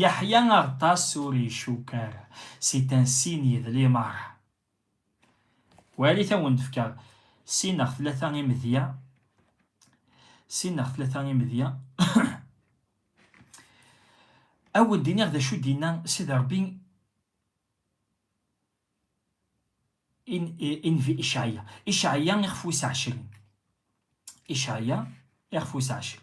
Yeḥya Aɣeṭṭas ur icukk ara si tansi n yedli meṛṛa. Walit a wen-d-fkeɣ sin neɣ tlata imedya, sin neɣ tlata imedya. A wen-d-iniɣ d acu d-inna Sidi Ṛebbi i Nnbi Icɛya. Icɛya ixef wis ɛecrin. Icɛya ixef wis ɛecrin.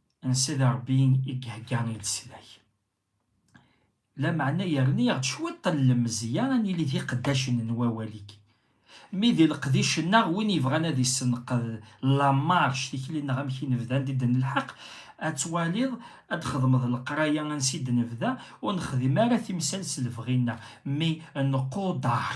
n Sidi Ṛebbi i ihegga i leslak, lameɛna yerna-aɣ-d cwiṭ n lemzeyya ad nili d iqeddacen n wawal-ik. Mi d leqdic-nneɣ, win yebɣan ad isenqed la marche, tikli-nneɣ amek i nebda, anda i d-nelḥeq, ad twaliḍ, ad d-xedmeḍ leqraya ansi i d-nebda, ur nexdim ara timsal s lebɣi-nneɣ, mi nquder.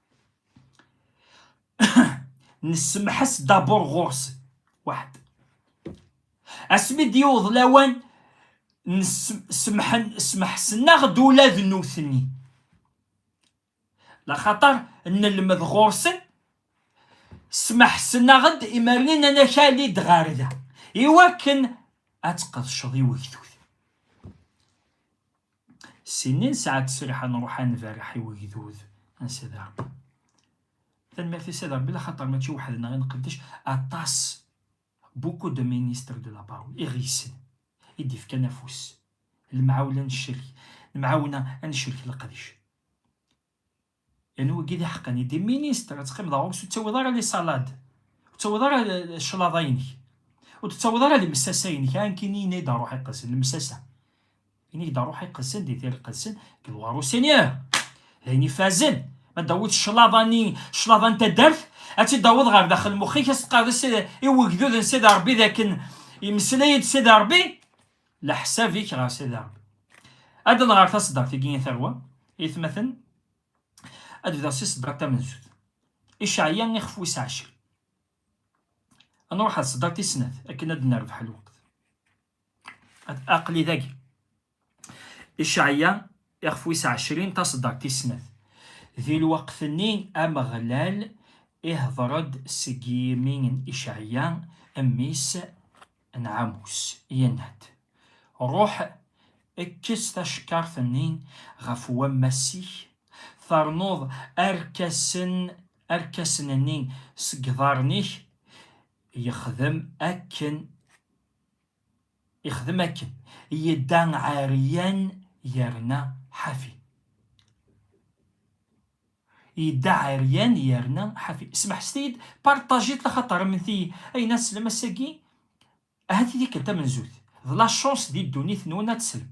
nessemḥas dabur ɣur-s waḥed asmi d-yewweḍ lawan smeḥsen-aɣ-d ula d nutni laxaṭer nelmed ɣur-sen smeḥsen-aɣ-d imernin anakali-d ɣer da iwakken ad tqedceḍ i wegdud Sin i nesɛa ttesriḥ ad nruḥ ad nberreḥ i wegdud n Sidi Rebbi. Tanemmirt i Sidi Rebbi laxaṭer mačči weḥd-neɣ i nqeddec, aṭas, beaucoup de ministres de la parole, i ɣ-yessen, i d-ifkan afus, lemɛawla neccerk, lemɛawna ad neccerk leqdic. Yani wagi d iḥeqqen, il des ministres, ad teqqimeḍ ɣur ur tettawiḍ ara les salades, ur tettawiḍ ara cclaḍa-inek, ur tettawiḍ ara lemsasa-inek, a nekkini ini-d a Ruḥ Iqedsen, lemsasa, ini-d a Ruḥ Iqedsen di tir iqedsen, kked ɣur Usenyur, d ayen ifazen, ma d-tawiḍ cclaḍa-nni, cclaḍa n taddart, ad tt-id-tawiḍ ɣer daxel n mexx-ik, ad s-teqqareḍ i wegdud n Sidi Rebbi d akken, yemmeslay-d Sidi Rebbi, Leḥsab-ik ɣer sada. Ad d-ḍeɣ ɣer taseddart-agi i tarwa, itmaten, ad bdeɣ si seddart tamenzut. Iceɛya ixef wis ɛecrin. Ad nruḥ ɣer tseddart tis snat akken ad nerbeḥ lweqt. Aql-i dagi. Iceɛya ixef wis ɛecrin taseddart tis snat. Di lweqt-nni Ameɣlal ihdeṛ-d seg yimi n Iceɛya, mmi-s, Anɛamus, yenna-d, Ruḥ, kkes tacekkart-nni ɣef wammas-ik, ternuḍ arkasen, arkasen-nni seg iḍarren-ik. Yexdem akken, yexdem akken, yedda ɛeryan yerna ḥafi. Yedda ɛeryan yerna ḥafi. Smeḥset-iyi-d, partagez-t axaṭer amenti ayen ad teslem ass-agi ahat i tikkelt tamenzut. D la chance di ddunit-nwen ad teslem.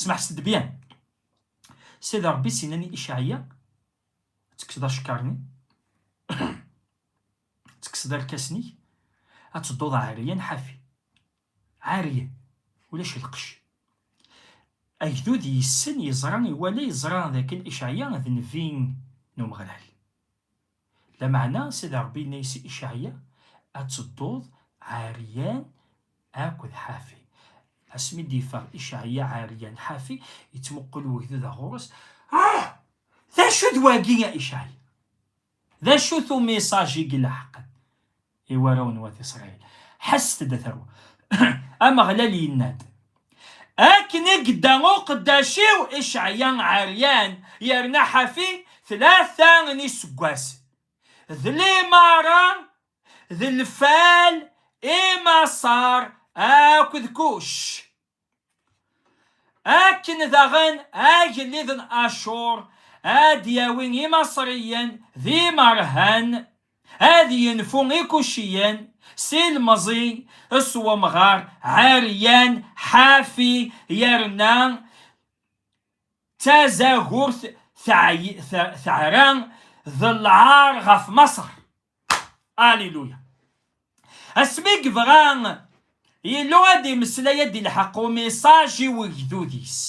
Smeḥset-d bien. Sidi Rebbi s-yennan i Icaɛya, Ad tekkseḍ acekkar-nni, ad tekkseḍ irkasen-ik, ad tedduḍ ɛeryan ḥafi. عارية ulac lqecc. Agdud yessen, yeẓra, iwala, yeẓra dakken Icɛya d nnbi n Umeɣlal. Lameɛna Sidi Ṛebbi yenna-yas i Icɛya, Ad tedduḍ ɛeryan akked ḥafi. Asmi d-yeffeɣ Icɛya ɛeryan ḥafi, yettmuqul wegdud ɣur-s, Ah! D acu d wagi a Icɛya? D acu-t umiṣaj i ileḥqen i warraw n Wat Isṛayil? Ḥesset-d, a tarwa! Ameɣlal yenna-d, Akken i yedda uqeddac-iw Icɛya ɛeryan yerna ḥafi tlata n yiseggasen, d limaṛa d lfal i Maṣer akked Kuc, Akken daɣen agellid n Acur ad d-yawi Imaṣriyen d imerhan, ad yenfu Ikuciyen s ilemẓi, s wemɣar Ɛeryan Ḥafi, yerna d tazagurt teɛra d lɛar ɣef Maṣer. Alléluia. Asmi i yebɣa Yillu ad imeslay ad ilḥeq umisaǧ i wegdud-is.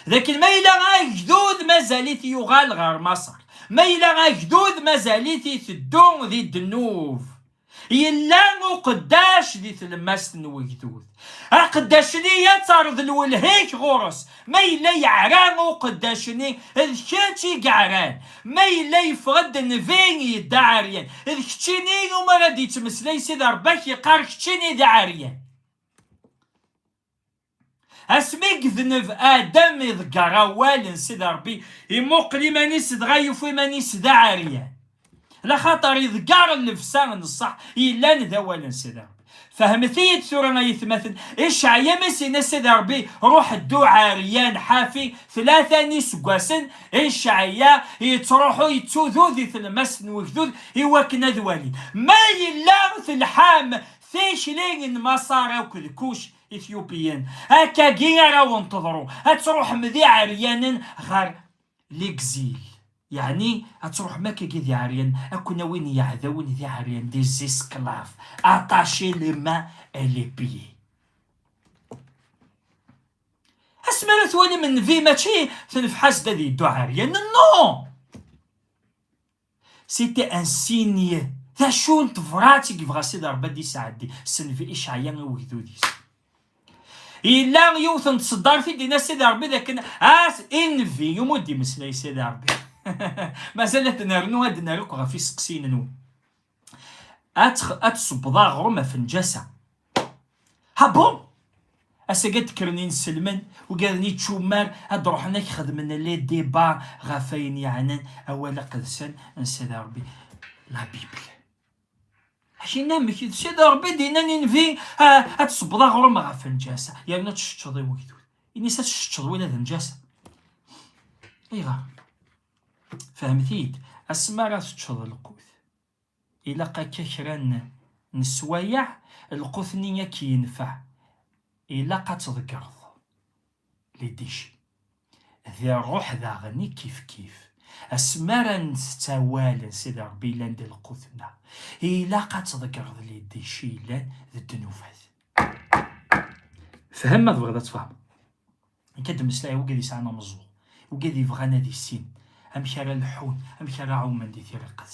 D akken ma yella agdud mazal-it yuɣal ɣer Maṣer. Ma yella agdud mazal-it iteddu di ddnub. Yella uqeddac di tlemmast n wegdud. Aqeddac-nni ad terḍ lwelha-k ɣur-s. Ma yella yeɛra uqeddac-nni, d kečč i yeɛran. Ma yella yeffeɣ-d nnbi, yedda ɛeryan, d keččini iwumi ara d-yettmeslay Sidi Rebbi ad k-iqqar keččini d aɛeryan. Asmi i idneb Adam iḍegger awal n Sidi Rebbi, imuqel iman-is dɣa yufa iman-is d aɛeryan. laxaṭer iḍeggar llebsa n ṣṣeḥ yellan d awal n Sidi Ṛebbi. Fehmet-iyi-d tura ay atmaten, Icɛaya mi s-yenna Sidi Ṛebbi, Ṛuḥ ddu ɛeryan, ḥafi, tlata n yiseggasen, Icɛaya yettṛuḥu yettudu di tlemmast n wegdud i wakken ad walin ma yella telḥam tikli n Maṣer akked Kuc, Ethiopian. Akkagi ara awen-teḍru, ad tṛuḥem d iɛeryanen ɣer legzil. Yeɛni ad truḥem akkagi d iɛeryan, ad ken-awin yiɛdawen d iɛeryan, des esclaves, attachés les mains et les pieds. Asmi ara twalim nnbi mačči tenfeḥ-as-d ad yeddu ɛeryan, non! C'était un signe, d acu n tebrat i yebɣa Sidi Ṛebbi ad d-isɛeddi s nnbi Icɛya i ugdud-is. Yella yiwet n tseddart i d-ina Sidi Rebbi dakken as invi umi ur d-imeslay Sidi Rebbi. Mazal ad nernu ad nerr akk ɣef iseqsiyen-nwen. Ad tsebbeḍ aɣrum ɣef njasa. Ha bon! Ass-agi ad d-kkren inselmen, ugaden ičummar, ad d-ruḥen ad k-xedmen les débats ɣef ayen yeɛnan awal aqedsen n Sidi Rebbi, la Bible. Akin amek i d Sidi Rebbi d-innan i Nnbi, Ad tsebbeḍ aɣrum ɣef lǧasa, yernu ad tceččeḍ i wegdud. Ini-as ad tceččeḍ win ad lǧasa. Ayɣer? Fehmet-iyi-d, asmi ara teččeḍ lqut, ilaq akka kra n neswayeɛ, lqut-nni ad k-yenfeɛ, ilaq ad tḍeggreḍ. les déchets. D rruḥ daɣen i kifkif. Asmi ara ntett awal n Sidi Ṛebbi yellan d lqut-nneɣ, ilaq ad tḍeggreḍ les déchets yellan d ddnubat. Fhem ma tebɣiḍ ad tfehmeḍ. Nekk ad d-mmeslayeɣ wigi yesɛan ameẓẓuɣ, wigi yebɣan ad issin amek ara leḥḥun, amek ara ɛumen di tiriqet.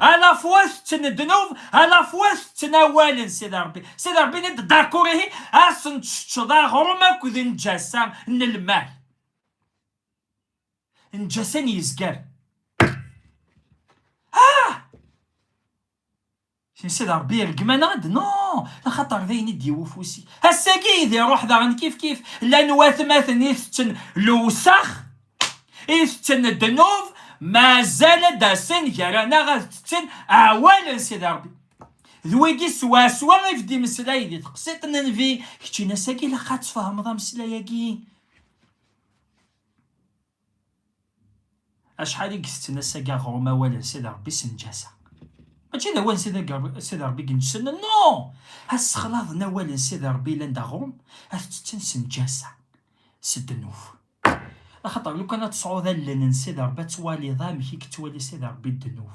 à la fois tettnednub à la fois tettnawalen Sidi Rebbi Sidi Rebbi ni d-dakkur ihi asen teččeḍ aɣrum akked njasa n lmal njasa n yezger Sinsi d Ṛebbi iṛeggem-aneɣ-d? Non! Axaṭer d ayen i d-yewwi ufus-ik. Ass-agi i d-iṛuḥ daɣen kifkif. Llan watmaten i itetten lewsex, i itetten ddnub, mazal ad d-asen gar-aneɣ ad tetten awal n Sidi Ṛebbi. D wigi swaswa i vd-imeslay di teqsiṭ n Nnbi, kečč in-as agi ilaq ad tfehmeḍ ameslay-agi. Acḥal i isetten asag aɣrum awal n Sidi Ṛebbi s nǧasa? Mačči d awal n Sidi Ṛebbi i ineǧsen, non! Assexlaḍ n awal n Sidi Ṛebbi yellan d aɣrum, ad t-ttetten s nǧasa, s ddnub. Axaṭer lukan ad tesɛuḍ allen n Sidi Ṛebbi ad twaliḍ amek i yettwali Sidi Ṛebbi ddnub.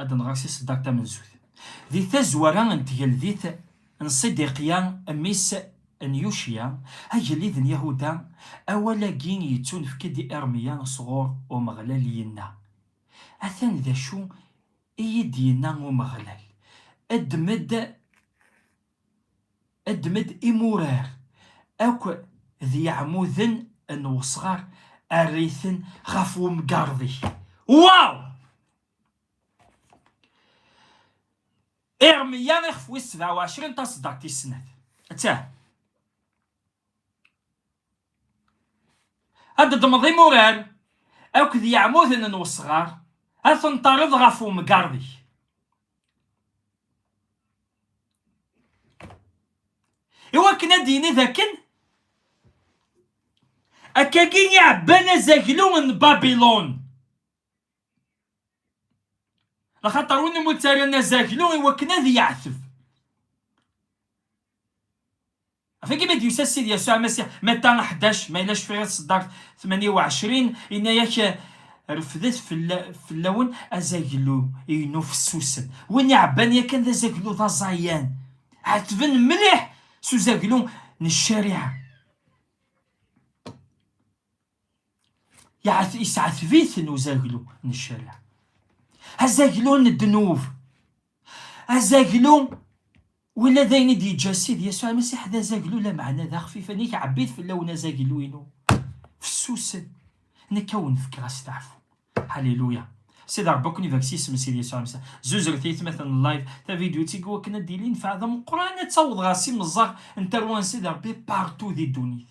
ad nɣer si ṣeddaq tamenzut. Di tazwara n tgeldit n Ṣidiqya mmi-s n Yucya, agellid n Yahuda, awal-agi yettunefk-d i Irmiya sɣur Umeɣlal yenna, Atan d acu i yi-d-yenna Umeɣlal, Ddem-d Ddem-d imurar akk d yeɛmuden n wesɣar err-iten ɣef wemgared-ik. Waw! Irmeyya ixef wis sebɛa u ɛecrin taseddart tis snat. Ttah! Ad d-ddmeḍ imurar akk d yeɛmuden n wesɣar, ad ten-terreḍ ɣef wemgared-ik. iwakken ad d-yini d akken akkagi iɛebban azaglu n babilon axaṭer win umi ttaran azaglu iwakken ad yeɛteb Afagi ma d-yusa Ssid Yasuɛ Amasiḥ, Mata ḥdac, ma yella cfiɣ i tseddart tmanya u ɛecrin, yenna-ak, Refdet fell-awen azaglu-inu fessusen. Win iɛebban yakan d azaglu d aẓayan, ɛettben mliḥ s uzaglu n ccariɛa. yesɛetbiten uzaglu n ccariɛ azaglu n ddnub azaglu wila d ayen i d-yeǧǧa Ssid Yasuɛ Masiḥ d azaglu lameɛna d axfifen i ɛebbit fell-awen azaglu-inu fessusen nekk a wen-fkeɣ asteɛfu Haliluya Sidi Ṛebbi ad ken-ibarek s yisem n Sidi Yasuɛ Masiḥ zuzret aytmaten n live tavidyut i iwakken ad d-yili nnfeɛ d ameqqran ad taweḍ ɣer s imeẓẓaɣ n tarwa n Sidi Ṛebbi partout di ddunit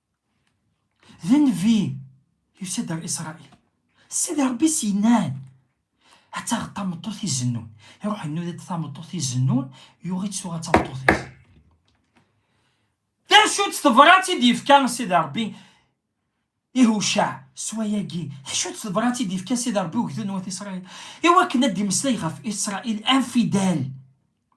d nnbi yusa-d ar Isṛail, Sidi Ṛebbi s-yenna-n, ad taɣeḍ tameṭṭut izennun. Iṛuḥ innuda-d tameṭṭut izennun, yuɣ-itt tuɣa d tameṭṭut-is. D acu-tt tebrat i d-yefka Sidi Ṛebbi i Hucaɛ s wayagi? D acu-tt tebrat i d-yefka Sidi Ṛebbi i ugdud n wat Isṛail? I wakken ad d-imeslay ɣef Isṛail anfidal,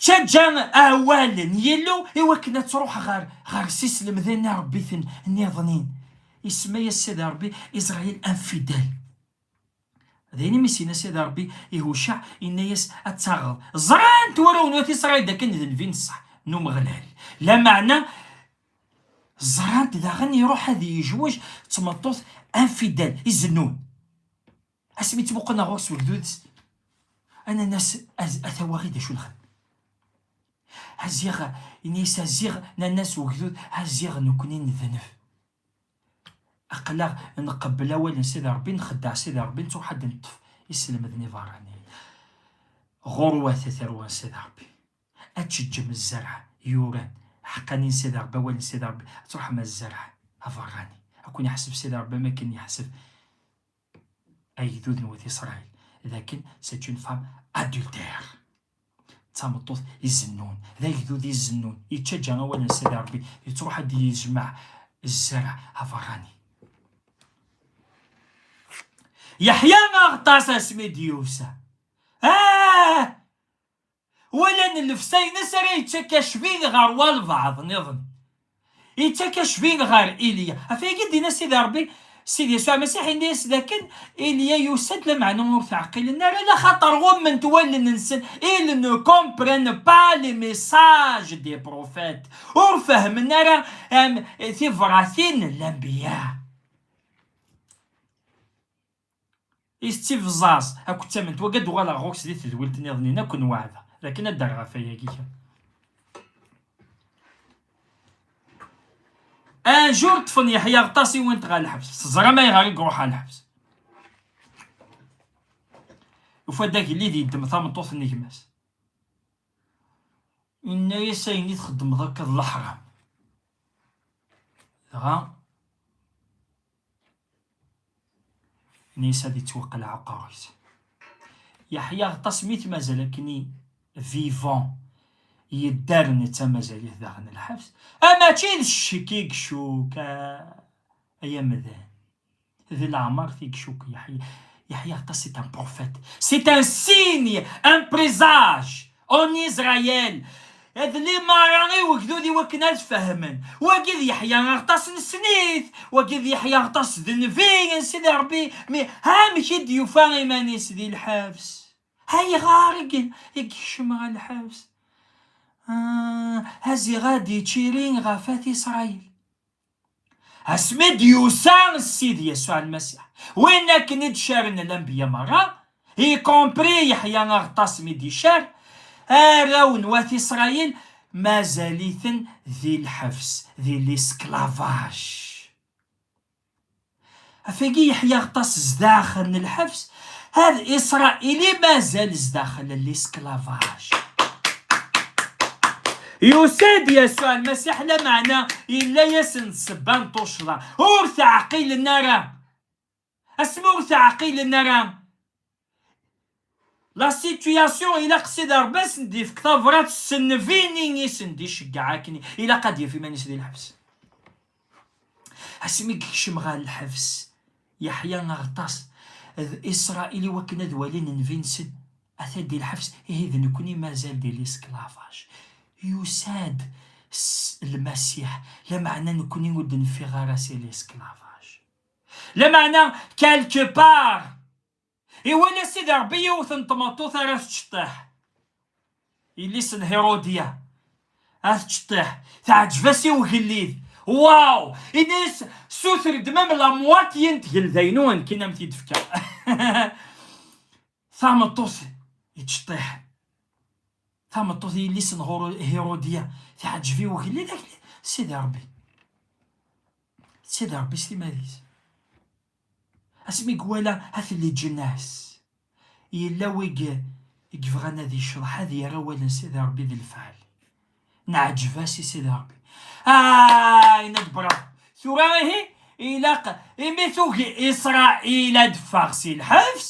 Tettaǧǧa awal n Yillu i wakken ad truḥ ɣer ɣer s-islemden n Ṛebbi-ten nniḍnin. Isemma-yas Sidi Ṛebbi Israyil Anfidal. D ayen imi s-yenna Sidi Ṛebbi i Hucaɛ, inna-yas, Ad taɣeḍ. Ẓran-t warraw n Wat Isṛayil dakken d nnbi n ṣṣeḥ n Umeɣlal. Lameɛna, ẓran-t daɣen iruḥ ad yejwej d tmeṭṭut Anfidal, izennun. Asmi ttmuqleɣ ɣur-s ugdud-s, ananas a tawaɣi d acu nxed. Aziɣ, ini-as aziɣ nanas ugdud, aziɣ nekni nednef. Aqlaɣ nqebbel awal n Sidi Rebbi, nxeddeɛ Sidi Rebbi, nettuḥad neṭṭef iselmeden iberraniyen. Ɣurwat a tarwa n Sidi Rebbi, ad teččem zzerɛ yuran, ḥeqqani n Sidi Rebbi, awal n Sidi Rebbi, ad truḥem a zzerɛ aberrani. Ad kun-iḥseb Sidi Rebbi am akken yeḥseb agdud n wat Isṛayil dakken c'est une femme adultère d tameṭṭut izennun d agdud izennun yettaǧǧa awal n Sidi Ṛebbi yettruḥ ad d-yejmeɛ zzer aberrani Yeḥya aɣeṭṭas asmi d-yusa ah! Wala n llebsa-ines ara yettak acbid ɣer walbeɛḍ niḍen. Yettak acbid ɣer Ilya. Ɣef wagi d-yenna Sidi Rebbi, Sidi Yasuɛ Amasiḥ yenna-yas dakken Ilya yusa-d, lameɛna ur t-ɛqilen ara, laxaṭer ɣumment wallen-nsen, ils ne comprennent pas les messages des prophètes, ur fehmen ara tibratin n lanbiya. I tettivẓaẓ akked tament, wagi ad d-uɣaleɣ ɣur-k di tedwilt niḍen-in akk n waɛda, d akken ad d-rreɣ ɣef wayagi kra. Un jour ṭṭfen Yeḥya Aɣeṭṭas i went ɣer lḥebs, teẓram ayɣer i iruḥ ɣer lḥebs. Ufa-d agellid yeddem tameṭṭut n gma-s. Yenna-yas ayen i txeddmeḍ akka d leḥram. Dɣa Nisa di ttwaqleɛ aqerru-is. Yeḥya aṭas mi t-mazal akken i vivant yedder netta mazal-it daxel n lḥebs. Ah, mačči d ccek i icuk, ay amdan. D leɛmert i icuk Yeḥya. Yeḥya aṭas c'est un prophète, c'est un signe, un présage. En Israël, ad limara i wegdud i wakken ad fehmen wagi d yeḥya aɣtas n snit wagi d yeḥya aɣtas d nnbi n sidi rebbi mi amek i d-yufa iman-is di lḥebs ayɣer i yekcem ɣer lḥebs ah, aziɣ ad ičiri ɣef at isṛayil asmi i d-yusa Sidi Yasuɛ Lmasiḥ, win akken i d-carren lanbeyya merra, y compris Yeḥya Aɣeṭṭas mi d-icar arraw n wat Isṛayil mazal-iten di lḥebs, di l'esclavage. Afagi yeḥya aṭas zdaxel n lḥebs, ad Israel i mazal zdaxel n l'esclavage. Yusa-d Yasuɛ Lmasiḥ, lameɛna yella-yasen-d ssebba n tuccḍa. Ur teɛqilen ara! Asmi ur teɛqilen ara! La situation ilaq Sidi Ṛebbi ad sen-d-ifk tabrat s nnbi-nni i sen-d-iceggeɛ akken ilaq ad d-yaf iman-is di lḥebs. Asmi yekcem ɣer lḥebs, yeḥya aɣtas d Isṛail iwakken ad walin nnbi-nsen, atan di lḥebs, ihi d nekkni mazal di lesklavaj. Yusa-d Lmasiḥ, lameɛna nekkni ur d-nfiɣ ara si lesklavaj. Lameɛna, quelque part, Iwala Sidi Ṛebbi yiwet n tmeṭṭut ara tečṭeḥ. Yelli-s n Hiṛudya ad tečṭeḥ, teɛǧeb-as i ugellid. Waw! Yenna-yas, Suter-d mem la mwatye n tgelda-inu akken am t-id-fkeɣ tameṭṭut ičeṭṭiḥen. Tameṭṭut n yelli-s n Hiṛudya teɛǧeb i ugellid akken Sidi Ṛebbi. Sidi Ṛebbi s timad-is. Asmi gwala at Leǧnas, yella wi gebɣan ad icḍeḥ, ad yerr awal n Sidi Rebbi d lfeɛl. Neɛǧeb-as i Sidi Rebbi. Aah! Yenna-d Bravo! Tura ihi ilaq imi tugi Isṛail ad d-ffeɣ si lḥebs,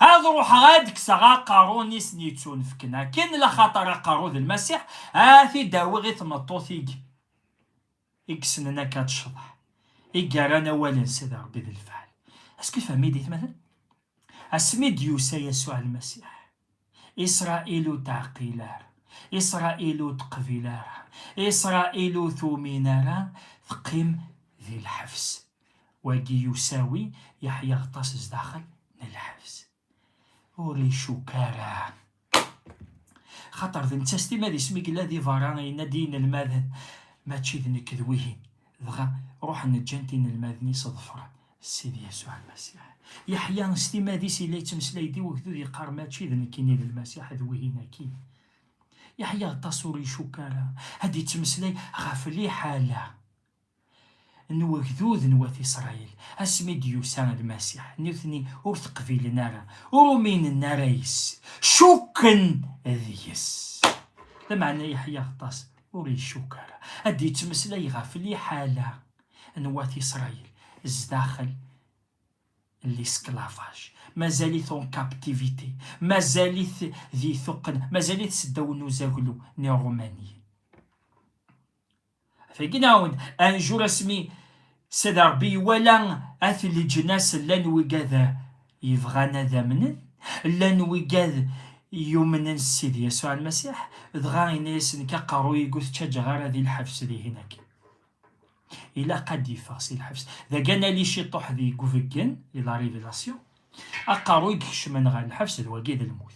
ad ruḥeɣ ad d-kkseɣ aqerru n isen-yettunefken akken, laxaṭer aqerru d Lmasiḥ, ad t-id-awiɣ i tmeṭṭut i i yessnen akka ad tecḍeḥ, i yerran awal-nsen d Rebbi d lefɛel. Est-ce que fehmi d itmaten? Asmi d-yusa Yasuɛ Lmasiḥ, Isṛail ur teɛqil ara, Isṛail ur teqbil ara, Isṛail ur tumin ara, teqqim di lḥebs. Wagi usawi yeḥya aṭas zdaxel n lḥebs. ur icuk ara xaṭer d netta s timadis mi yella di berra yenna-d i inelmaden mačči d nekk d wihin dɣa ruḥen ǧǧan-t inelmaden-is ḍefren Sidi Yasuɛ Lmasiḥ. Yeḥya s timadis yella yettmeslay-d i wegdud yeqqar mačči d nekkini d Lmasiḥ d wihin akkin. Yeḥya aṭas ur icuk ara ad yettmeslay ɣef liḥala. n wegdud n wat Isṛayil, asmi d-yusa Lmasiḥ, nutni ur t-qbilen ara, ur uminen ara yes-s, cukken deg-s. Lameɛna Yeḥya Aɣeṭṭas ur icukk ara, ad d-yettmeslay ɣef liḥala n wat Isṛayil zdaxel n lisklavaj, mazal-it en captivité, mazal-it di tuqqna, mazal-it seddaw n uzaglu n Irumaniyen. Tegnaw-d anjur asmi s d Rebbi iwala at leǧnas llan wigad yebɣan ad amnen, llan wigad yumnen s Sidi Yasuɛ Lmasiḥ, dɣa yenna-yasen nekk aqerruy-ig ur t-ttaǧǧaɣ ara di lḥebs dihin akin. Ilaq ad d-iffeɣ si lḥebs. Dagi anali ciṭuḥ di gubeggen, di la révélation, aqerruy ikecmen ɣer lḥebs d wagi d lmut.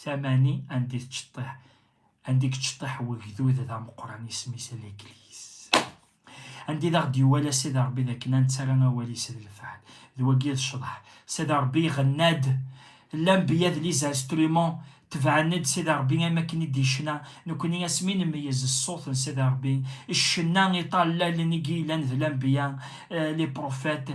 Tamani anda i tceṭṭiḥ anda i yečṭiḥ wegdud d ameqqran isem-is Leglis. Anda i d aɣ-d-yuwala Sidi Rebbi d akken ad nettara awal-is d lefɛel. D wagi d ccḍeḥ. Sidi Rebbi iɣenna-d, L'anbiya d les instruments tebɛen-d Sidi Rebbi am wakken i d-yecna, nekkni asmi nmeyyez ṣṣut n Sidi Rebbi, ccenna iṭallalen i yellan d l'anbiya, les prophètes,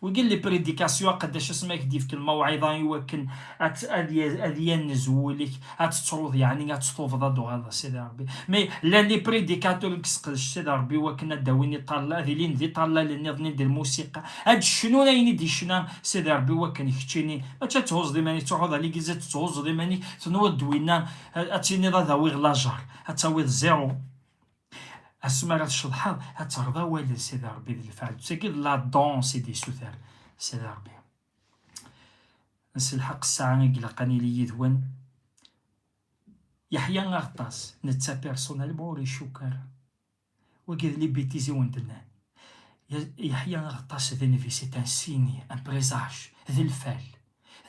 Wigi n li prédication aqeddac asmi ad k-d-yefk lmawɛiḍa i wakken ad yannez wul-ik, ad tettruḍ yeɛni ad tetubeḍ ad tuɣaleḍ a Sidi Rebbi. Mais llan li prédicateurs i yesseqdec Sidi Rebbi i wakken ad d-awin iṭallal, ad ilin d iṭallalen nniḍen i d lmusiqa, ad d-cnun ayen i d-yecna Sidi Rebbi i wakken keččini mačči ad thuẓeḍ iman-ik, truḥeḍ a l'église ad tetthuẓeḍ iman-ik, tenwiḍ-d winna ad tiniḍ ad awiɣ lajer, ad tawiḍ zéro. asmi ara tceḍḥeḍ ad terreḍ awalen Sidi Ṛebbi d lefɛel ttagi d la dons i d-isuter Sidi Ṛebbi nselḥeq ssaɛa i ilaq ad nili yid-wen yeḥya aɣeṭṭas netta pirsonal ma ur icukk ara wagi d libitiz i wen-d-nnan yeḥya aɣeṭṭas d nvis d tansini d lfal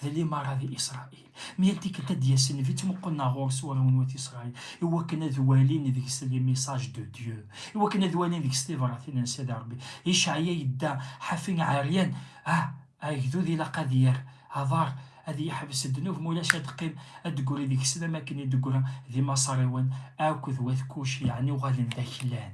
d limaṛa di Isṛail. Mi yal tikkelt ad d-yas nnbi ttmuqqulen ar ɣur-s warraw n wat Isṛail i wakken ad walin deg-s les messages de Dieu, i wakken ad walin deg-s tibratin n Sidi Ṛebbi. Icɛya yedda ḥafi ɛeryan, ah, agdud ilaq ad yerr aḍar, ad yeḥbes ddnub ma ulac ad d-teqqim, ad d-teggri deg-s d am wakken i d-teggra di Maṣariwen akk d wat Kuc, yeɛni uɣalen d aklan.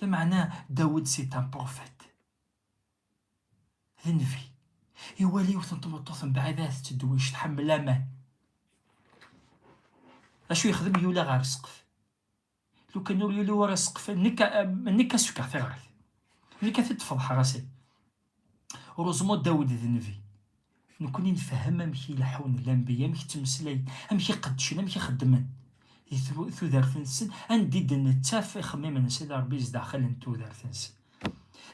Lameɛna Dawed si d ameṛufet, d nnbi, iwala yiwet n tmeṭṭut mebɛid ahat d tedwict tḥemmel aman. D acu yexdem? Yuli ɣer ssqef. Lukan ur yuli wara ssqef, nekk ad s-fkeɣ tiɣrit. Nekk ad t-id-feḍḥeɣ a Sidi. Rozmo Dawed d nnbi. Nekkni nfehhem amek i leḥḥun lanbiya, amek ttmeslayen, amek i qeddcen, amek i xeddmen di tudert-nsen, anda i d-nettaf ixemmimen-nsen d Rebbi zdaxel n tudert-nsen.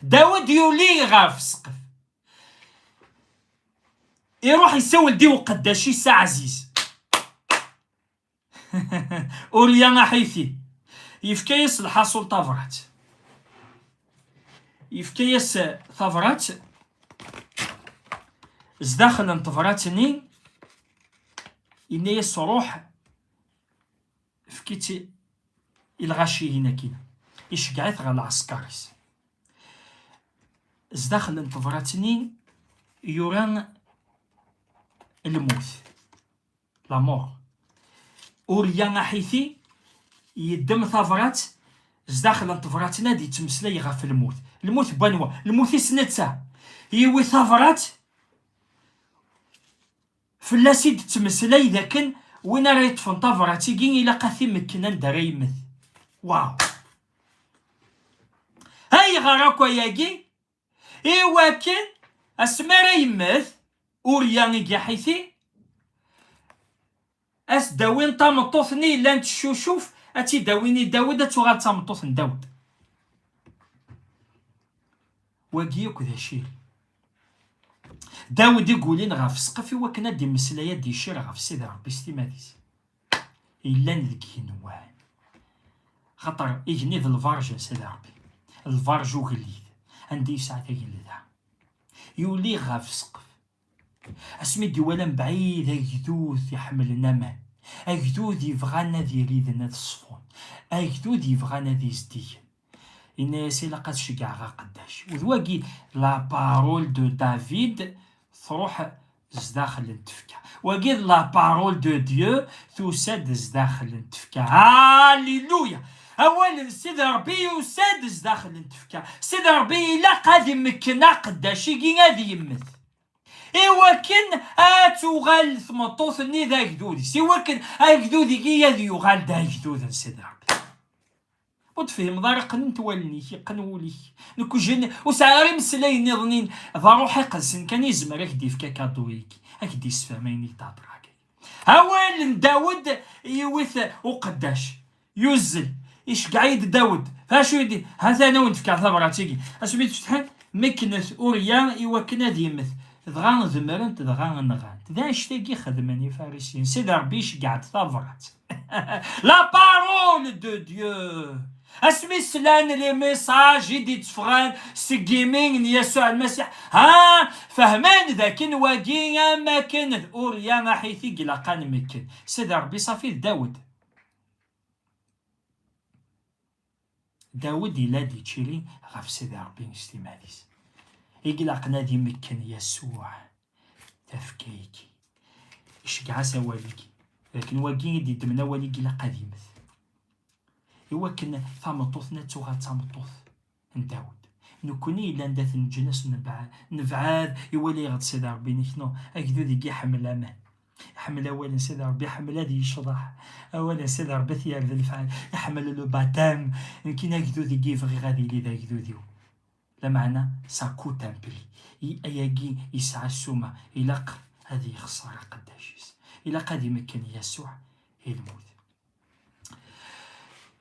Dawed yuli ɣef ssqef, iruḥ isawel-d i uqeddac-is aɛziz. Ulya aḥiti, yefka-yas lḥaṣul tabrat. Yefka-yas tabrat, zdaxel n tebrat-nni, yenna-yas ruḥ, efk-itt i lɣaciyin akkin, iceggeɛ-it ɣer lɛesker-is. Zdaxel n tebrat-nni yura lmut. la mort. Urya Aḥiti yeddem tabrat zdaxel n tebrat-nni ad yettmeslay ɣef lmut. Lmut n wanwa? Lmut-is netta. Yiwi tabrat fell-as i d-ttmeslay d akken win ara yeṭṭfen tabrat-igi ilaq ad t-imekken anda ara yemmet. Waw! Ayɣer akk ayagi? Iwakken asmi ara yemmet Urya i Giḥiti, ad s-d-awin tameṭṭut-nni yellan teccucuf, ad tt-id-awin i Dawed, ad tuɣal d tameṭṭut n Dawed. Wagi akk d aciri. Dawed i yulin ɣef ssqef iwakken ad d-immeslay, ad d-icir ɣef Sidi Ṛebbi s timmad-is. yellan deg igenwan xaṭer igenni d lbarj n Sidi Ṛebbi lbarj ugellid anda yesɛa tagellda yuli ɣef ssqef asmi d-iwala mebɛid agdud iḥemmlen aman agdud yebɣan ad iriden ad ṣfun agdud yebɣan ad izdigen yenna-yas ilaq ad ceggɛeɣ aqeddac d wagi la parole de David truḥ zdaxel n tefka wagi d la parole de Dieu tusa-d zdaxel n tefka alléluia awal n sid rebbi yusa-d zdaxel n tefka sid rebbi ilaq ad imekken aqeddac-igi ad yemmet iwakken ad tuɣal tmeṭṭut-nni d agdud-is iwakken agdud-igi ad yuɣal d agdud n sid rebbi Ur d-tefhimeḍ ara qqnent wallen-ik, iqqen wul-ik. Nekkjen ur sɛiɣ ara imeslayen niḍen-in, d aruḥ iqedsen kan i yezmer ak d-ifk akaḍu-ik, ak d-isefhem ayen i k-d-hedreɣ agi. Awal n Dawed yiwi-t uqeddac, yuzzel, iceggeɛ-iyi-d Dawed, ɣef wacu i d, ha-t an awen-d fkeɣ tabrat-agi, asmi d-fetḥen, mekknet Urya i wakken ad yemmet, dɣa demmrent dɣa nɣant. D annect-agi xedmen Ifarisiyen, Sidi Rebbi iceggeɛ-d tabrat. La parole de Dieu asmi slan les messages i d-itteffɣen seg imi n Yasuɛ Lmasiḥ ha fehmen d akken wagi am akken d Urya aḥiti i ilaq ad nmekken Sidi Ṛebbi ṣafi d Dawed Dawed yella d ičili ɣef Sidi Ṛebbi s timmad-is. I ilaqen ad imekken Yasuɛ tafekka-agi. Iceggeɛ-as awal-agi, d akken wagi i d-iddmen awal-agi ilaq ad immet. I wakken tameṭṭut-nni ad tuɣal d tameṭṭut n Dawed. Nekkni yellan d at leǧnas nebɛad, nebɛad i walayeɣ-d Sidi Ṛebbi-nnek, neɣ agdud i iḥemmel aman. Iḥemmel awal n Sidi Ṛebbi, iḥemmel ad yecḍeḥ. Awal n Sidi Ṛebbi t-yerr d lefɛel. Iḥemmel le baptême. Nekk in agdud i yebɣiɣ ad yili d agdud-iw. Lameɛna ça coûte un prix. I ayagi yesɛa ssuma. Ilaq ad yexṣer aqeddac-is. Ilaq ad imekken Yasuɛ i lmut.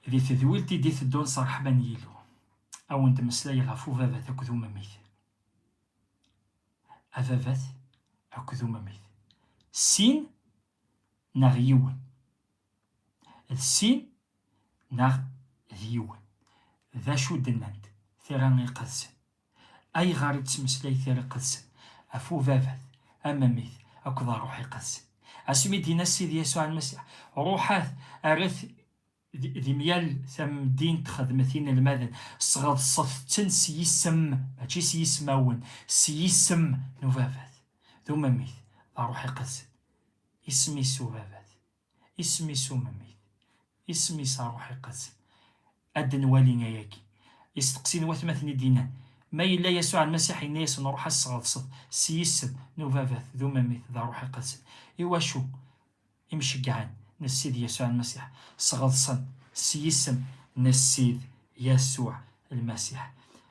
Di tedwilt i d-iteddun s ṛṛeḥma n Yillu, ad wen-d-meslayeɣ ɣef ubabat akked umemmit. ababat akked umamit. Sin neɣ yiwen. D sin neɣ d yiwen. D acu d-nnant tira iqedsen? Ayɣer i d-temeslay tira iqedsen ɣef ubabat, amamit akked ṛṛuḥ iqedsen? Asmi d-yenna Sidi Yasuɛ Lmasiḥ, Ṛuḥat, erret Di myal tamdint xedmet inelmaden, sɣeḍset-ten s yisem, mačči s yismawen, s yisem n ubabat, d umemmit, d aṛuḥ iqedsen. Isem-is ubabat, isem-is umemmit, isem-is aṛuḥ iqedsen. Ad d-nwali ayagi. Isteqsi n watmaten i d-yennan, Ma yella Yasuɛ Lmasiḥ yenna-yasen, Ṛuḥ ad sɣeḍset s yisem n ubabat, d umemmit, d aṛuḥ iqedsen. Iwacu? Imceggɛen n Ssid Yasuɛ Lmasiḥ sɣeḍsen s yisem n Ssid Yasuɛ Lmasiḥ.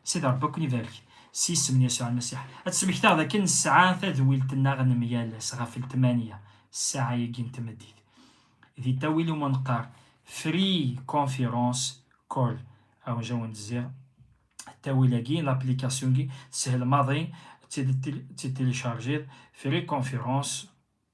Sidi Ṛebbi ad ken-ibarek s yisem n Yasuɛ Lmasiḥ. Ad d-smekteɣ dakken nesɛa tadwilt-nneɣ n myal ass ɣef ltmanya ssaɛa-agi n tmeddit, di ttawil umi neqqar Free Conference Call. Awenj ad awen-d-zziɣ ttawil-agi, laplikasyu-agi, teshel maḍi ad tt-id-tilicharjiḍ, Free Conference.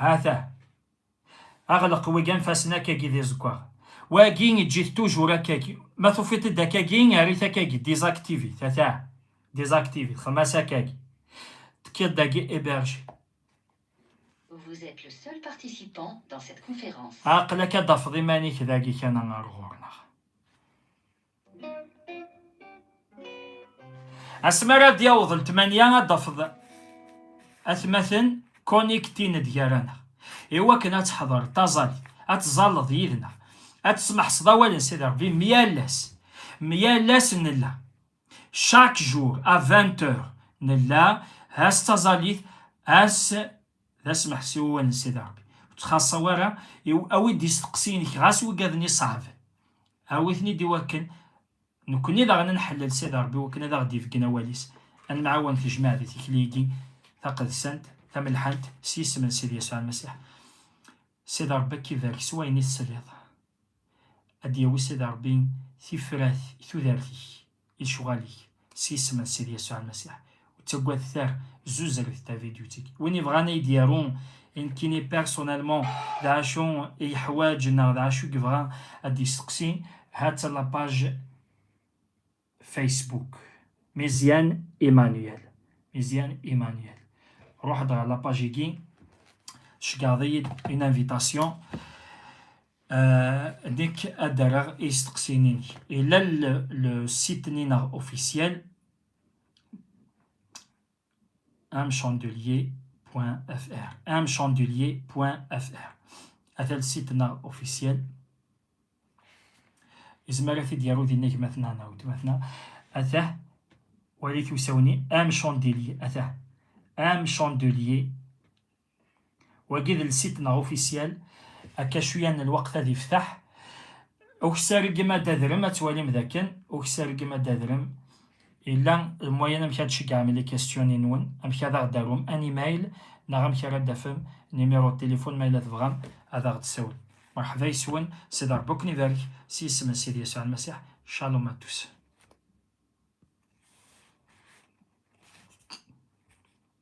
Ha-t-a. Aɣleq wi anfasen akkagi d iẓeggaɣ. Wagi eǧǧ-it tujur akkagi. Ma tufiḍ-t-id akkagi, err-it akkagi, désactive-it, ha-t-a. Désactive-it, xdem-as akkagi. Tekkiḍ-d agi héberger. Vous êtes le seul participant dans cette conférence. Aql-ak ad d-tafeḍ iman-ik dagi kan ɣer ɣur-neɣ. Asmi ara d-yaweḍ letmanya ad d-tafeḍ atmaten connectin-d gar-aneɣ i wakken ad teḥḍer taẓalit, ad tẓalleḍ yid-neɣ, ad tesmeḥseḍ awal n Sidi Rebbi mi yal-as, mi yal-as nella. Chaque jour à 20 heures nella ass taẓalit, ass D asmeḥsi wawal n Sidi Rebbi. Ur ttxaṣṣa wara, awi-d isteqsiyen-ik ɣas wiggaden iṣeɛben. Awi-ten-id i wakken nekkni daɣen ad nḥellel Sidi Rebbi wakken ad aɣ-d-ifgen awal-is. Ad nemɛawan deg tejmaɛt di tikli-agi taqedsant, tamelḥant, s yisem n Sidi Yasuɛ Lmasiḥ. Sidi Rebbi ad k-ibarek s wayen i tesliḍ. Ad d-yawi Sidi Rebbi tifrat i tudert-ik. i lecɣal-ik s yisem n Sidi Yasuɛ Lmasiḥ. Ur ttaggadet ara, zuzret tavidyut-agi. Win yebɣan ad yi-d-yaru i nekkini personnellement d acu i yeḥwaǧ neɣ d acu i yebɣa ad d-yesteqsi, ha-tt-a la page Facebook. Meziane Emmanuel, Meziane Emmanuel. Ruḥ-d ɣer la page-agi, tceggɛeḍ-iyi-d une invitation. nek ad d-rreɣ isteqsiyen-inek. Ila le site-nni neɣ officiel amchandelier.fr amchandelier.fr ata le site neɣ officiel izmer ad t-id-yaru din agmatna neɣ wetmatna ata walit usawen-i amchandelier ata amchandelier Wagi d lsit neɣ ufisyal, akka cwiya n lweqt ad iftaḥ. Uksargem ad d-adrem, ad twalim d akken, uksargem ad d-adrem, yella lmwayen amek ad d-ceggɛem les questions nwen, amek ad aɣ-d-arum un email neɣ amek ara d-tafem numéro de téléphone ma yella tebɣam ad aɣ-d-tasiwlem. Merḥba yes-wen, Sidi Rebbi ad ken-ibarek, s yisem n Sidi Yasuɛ Lmasiḥ, Shalom à tous.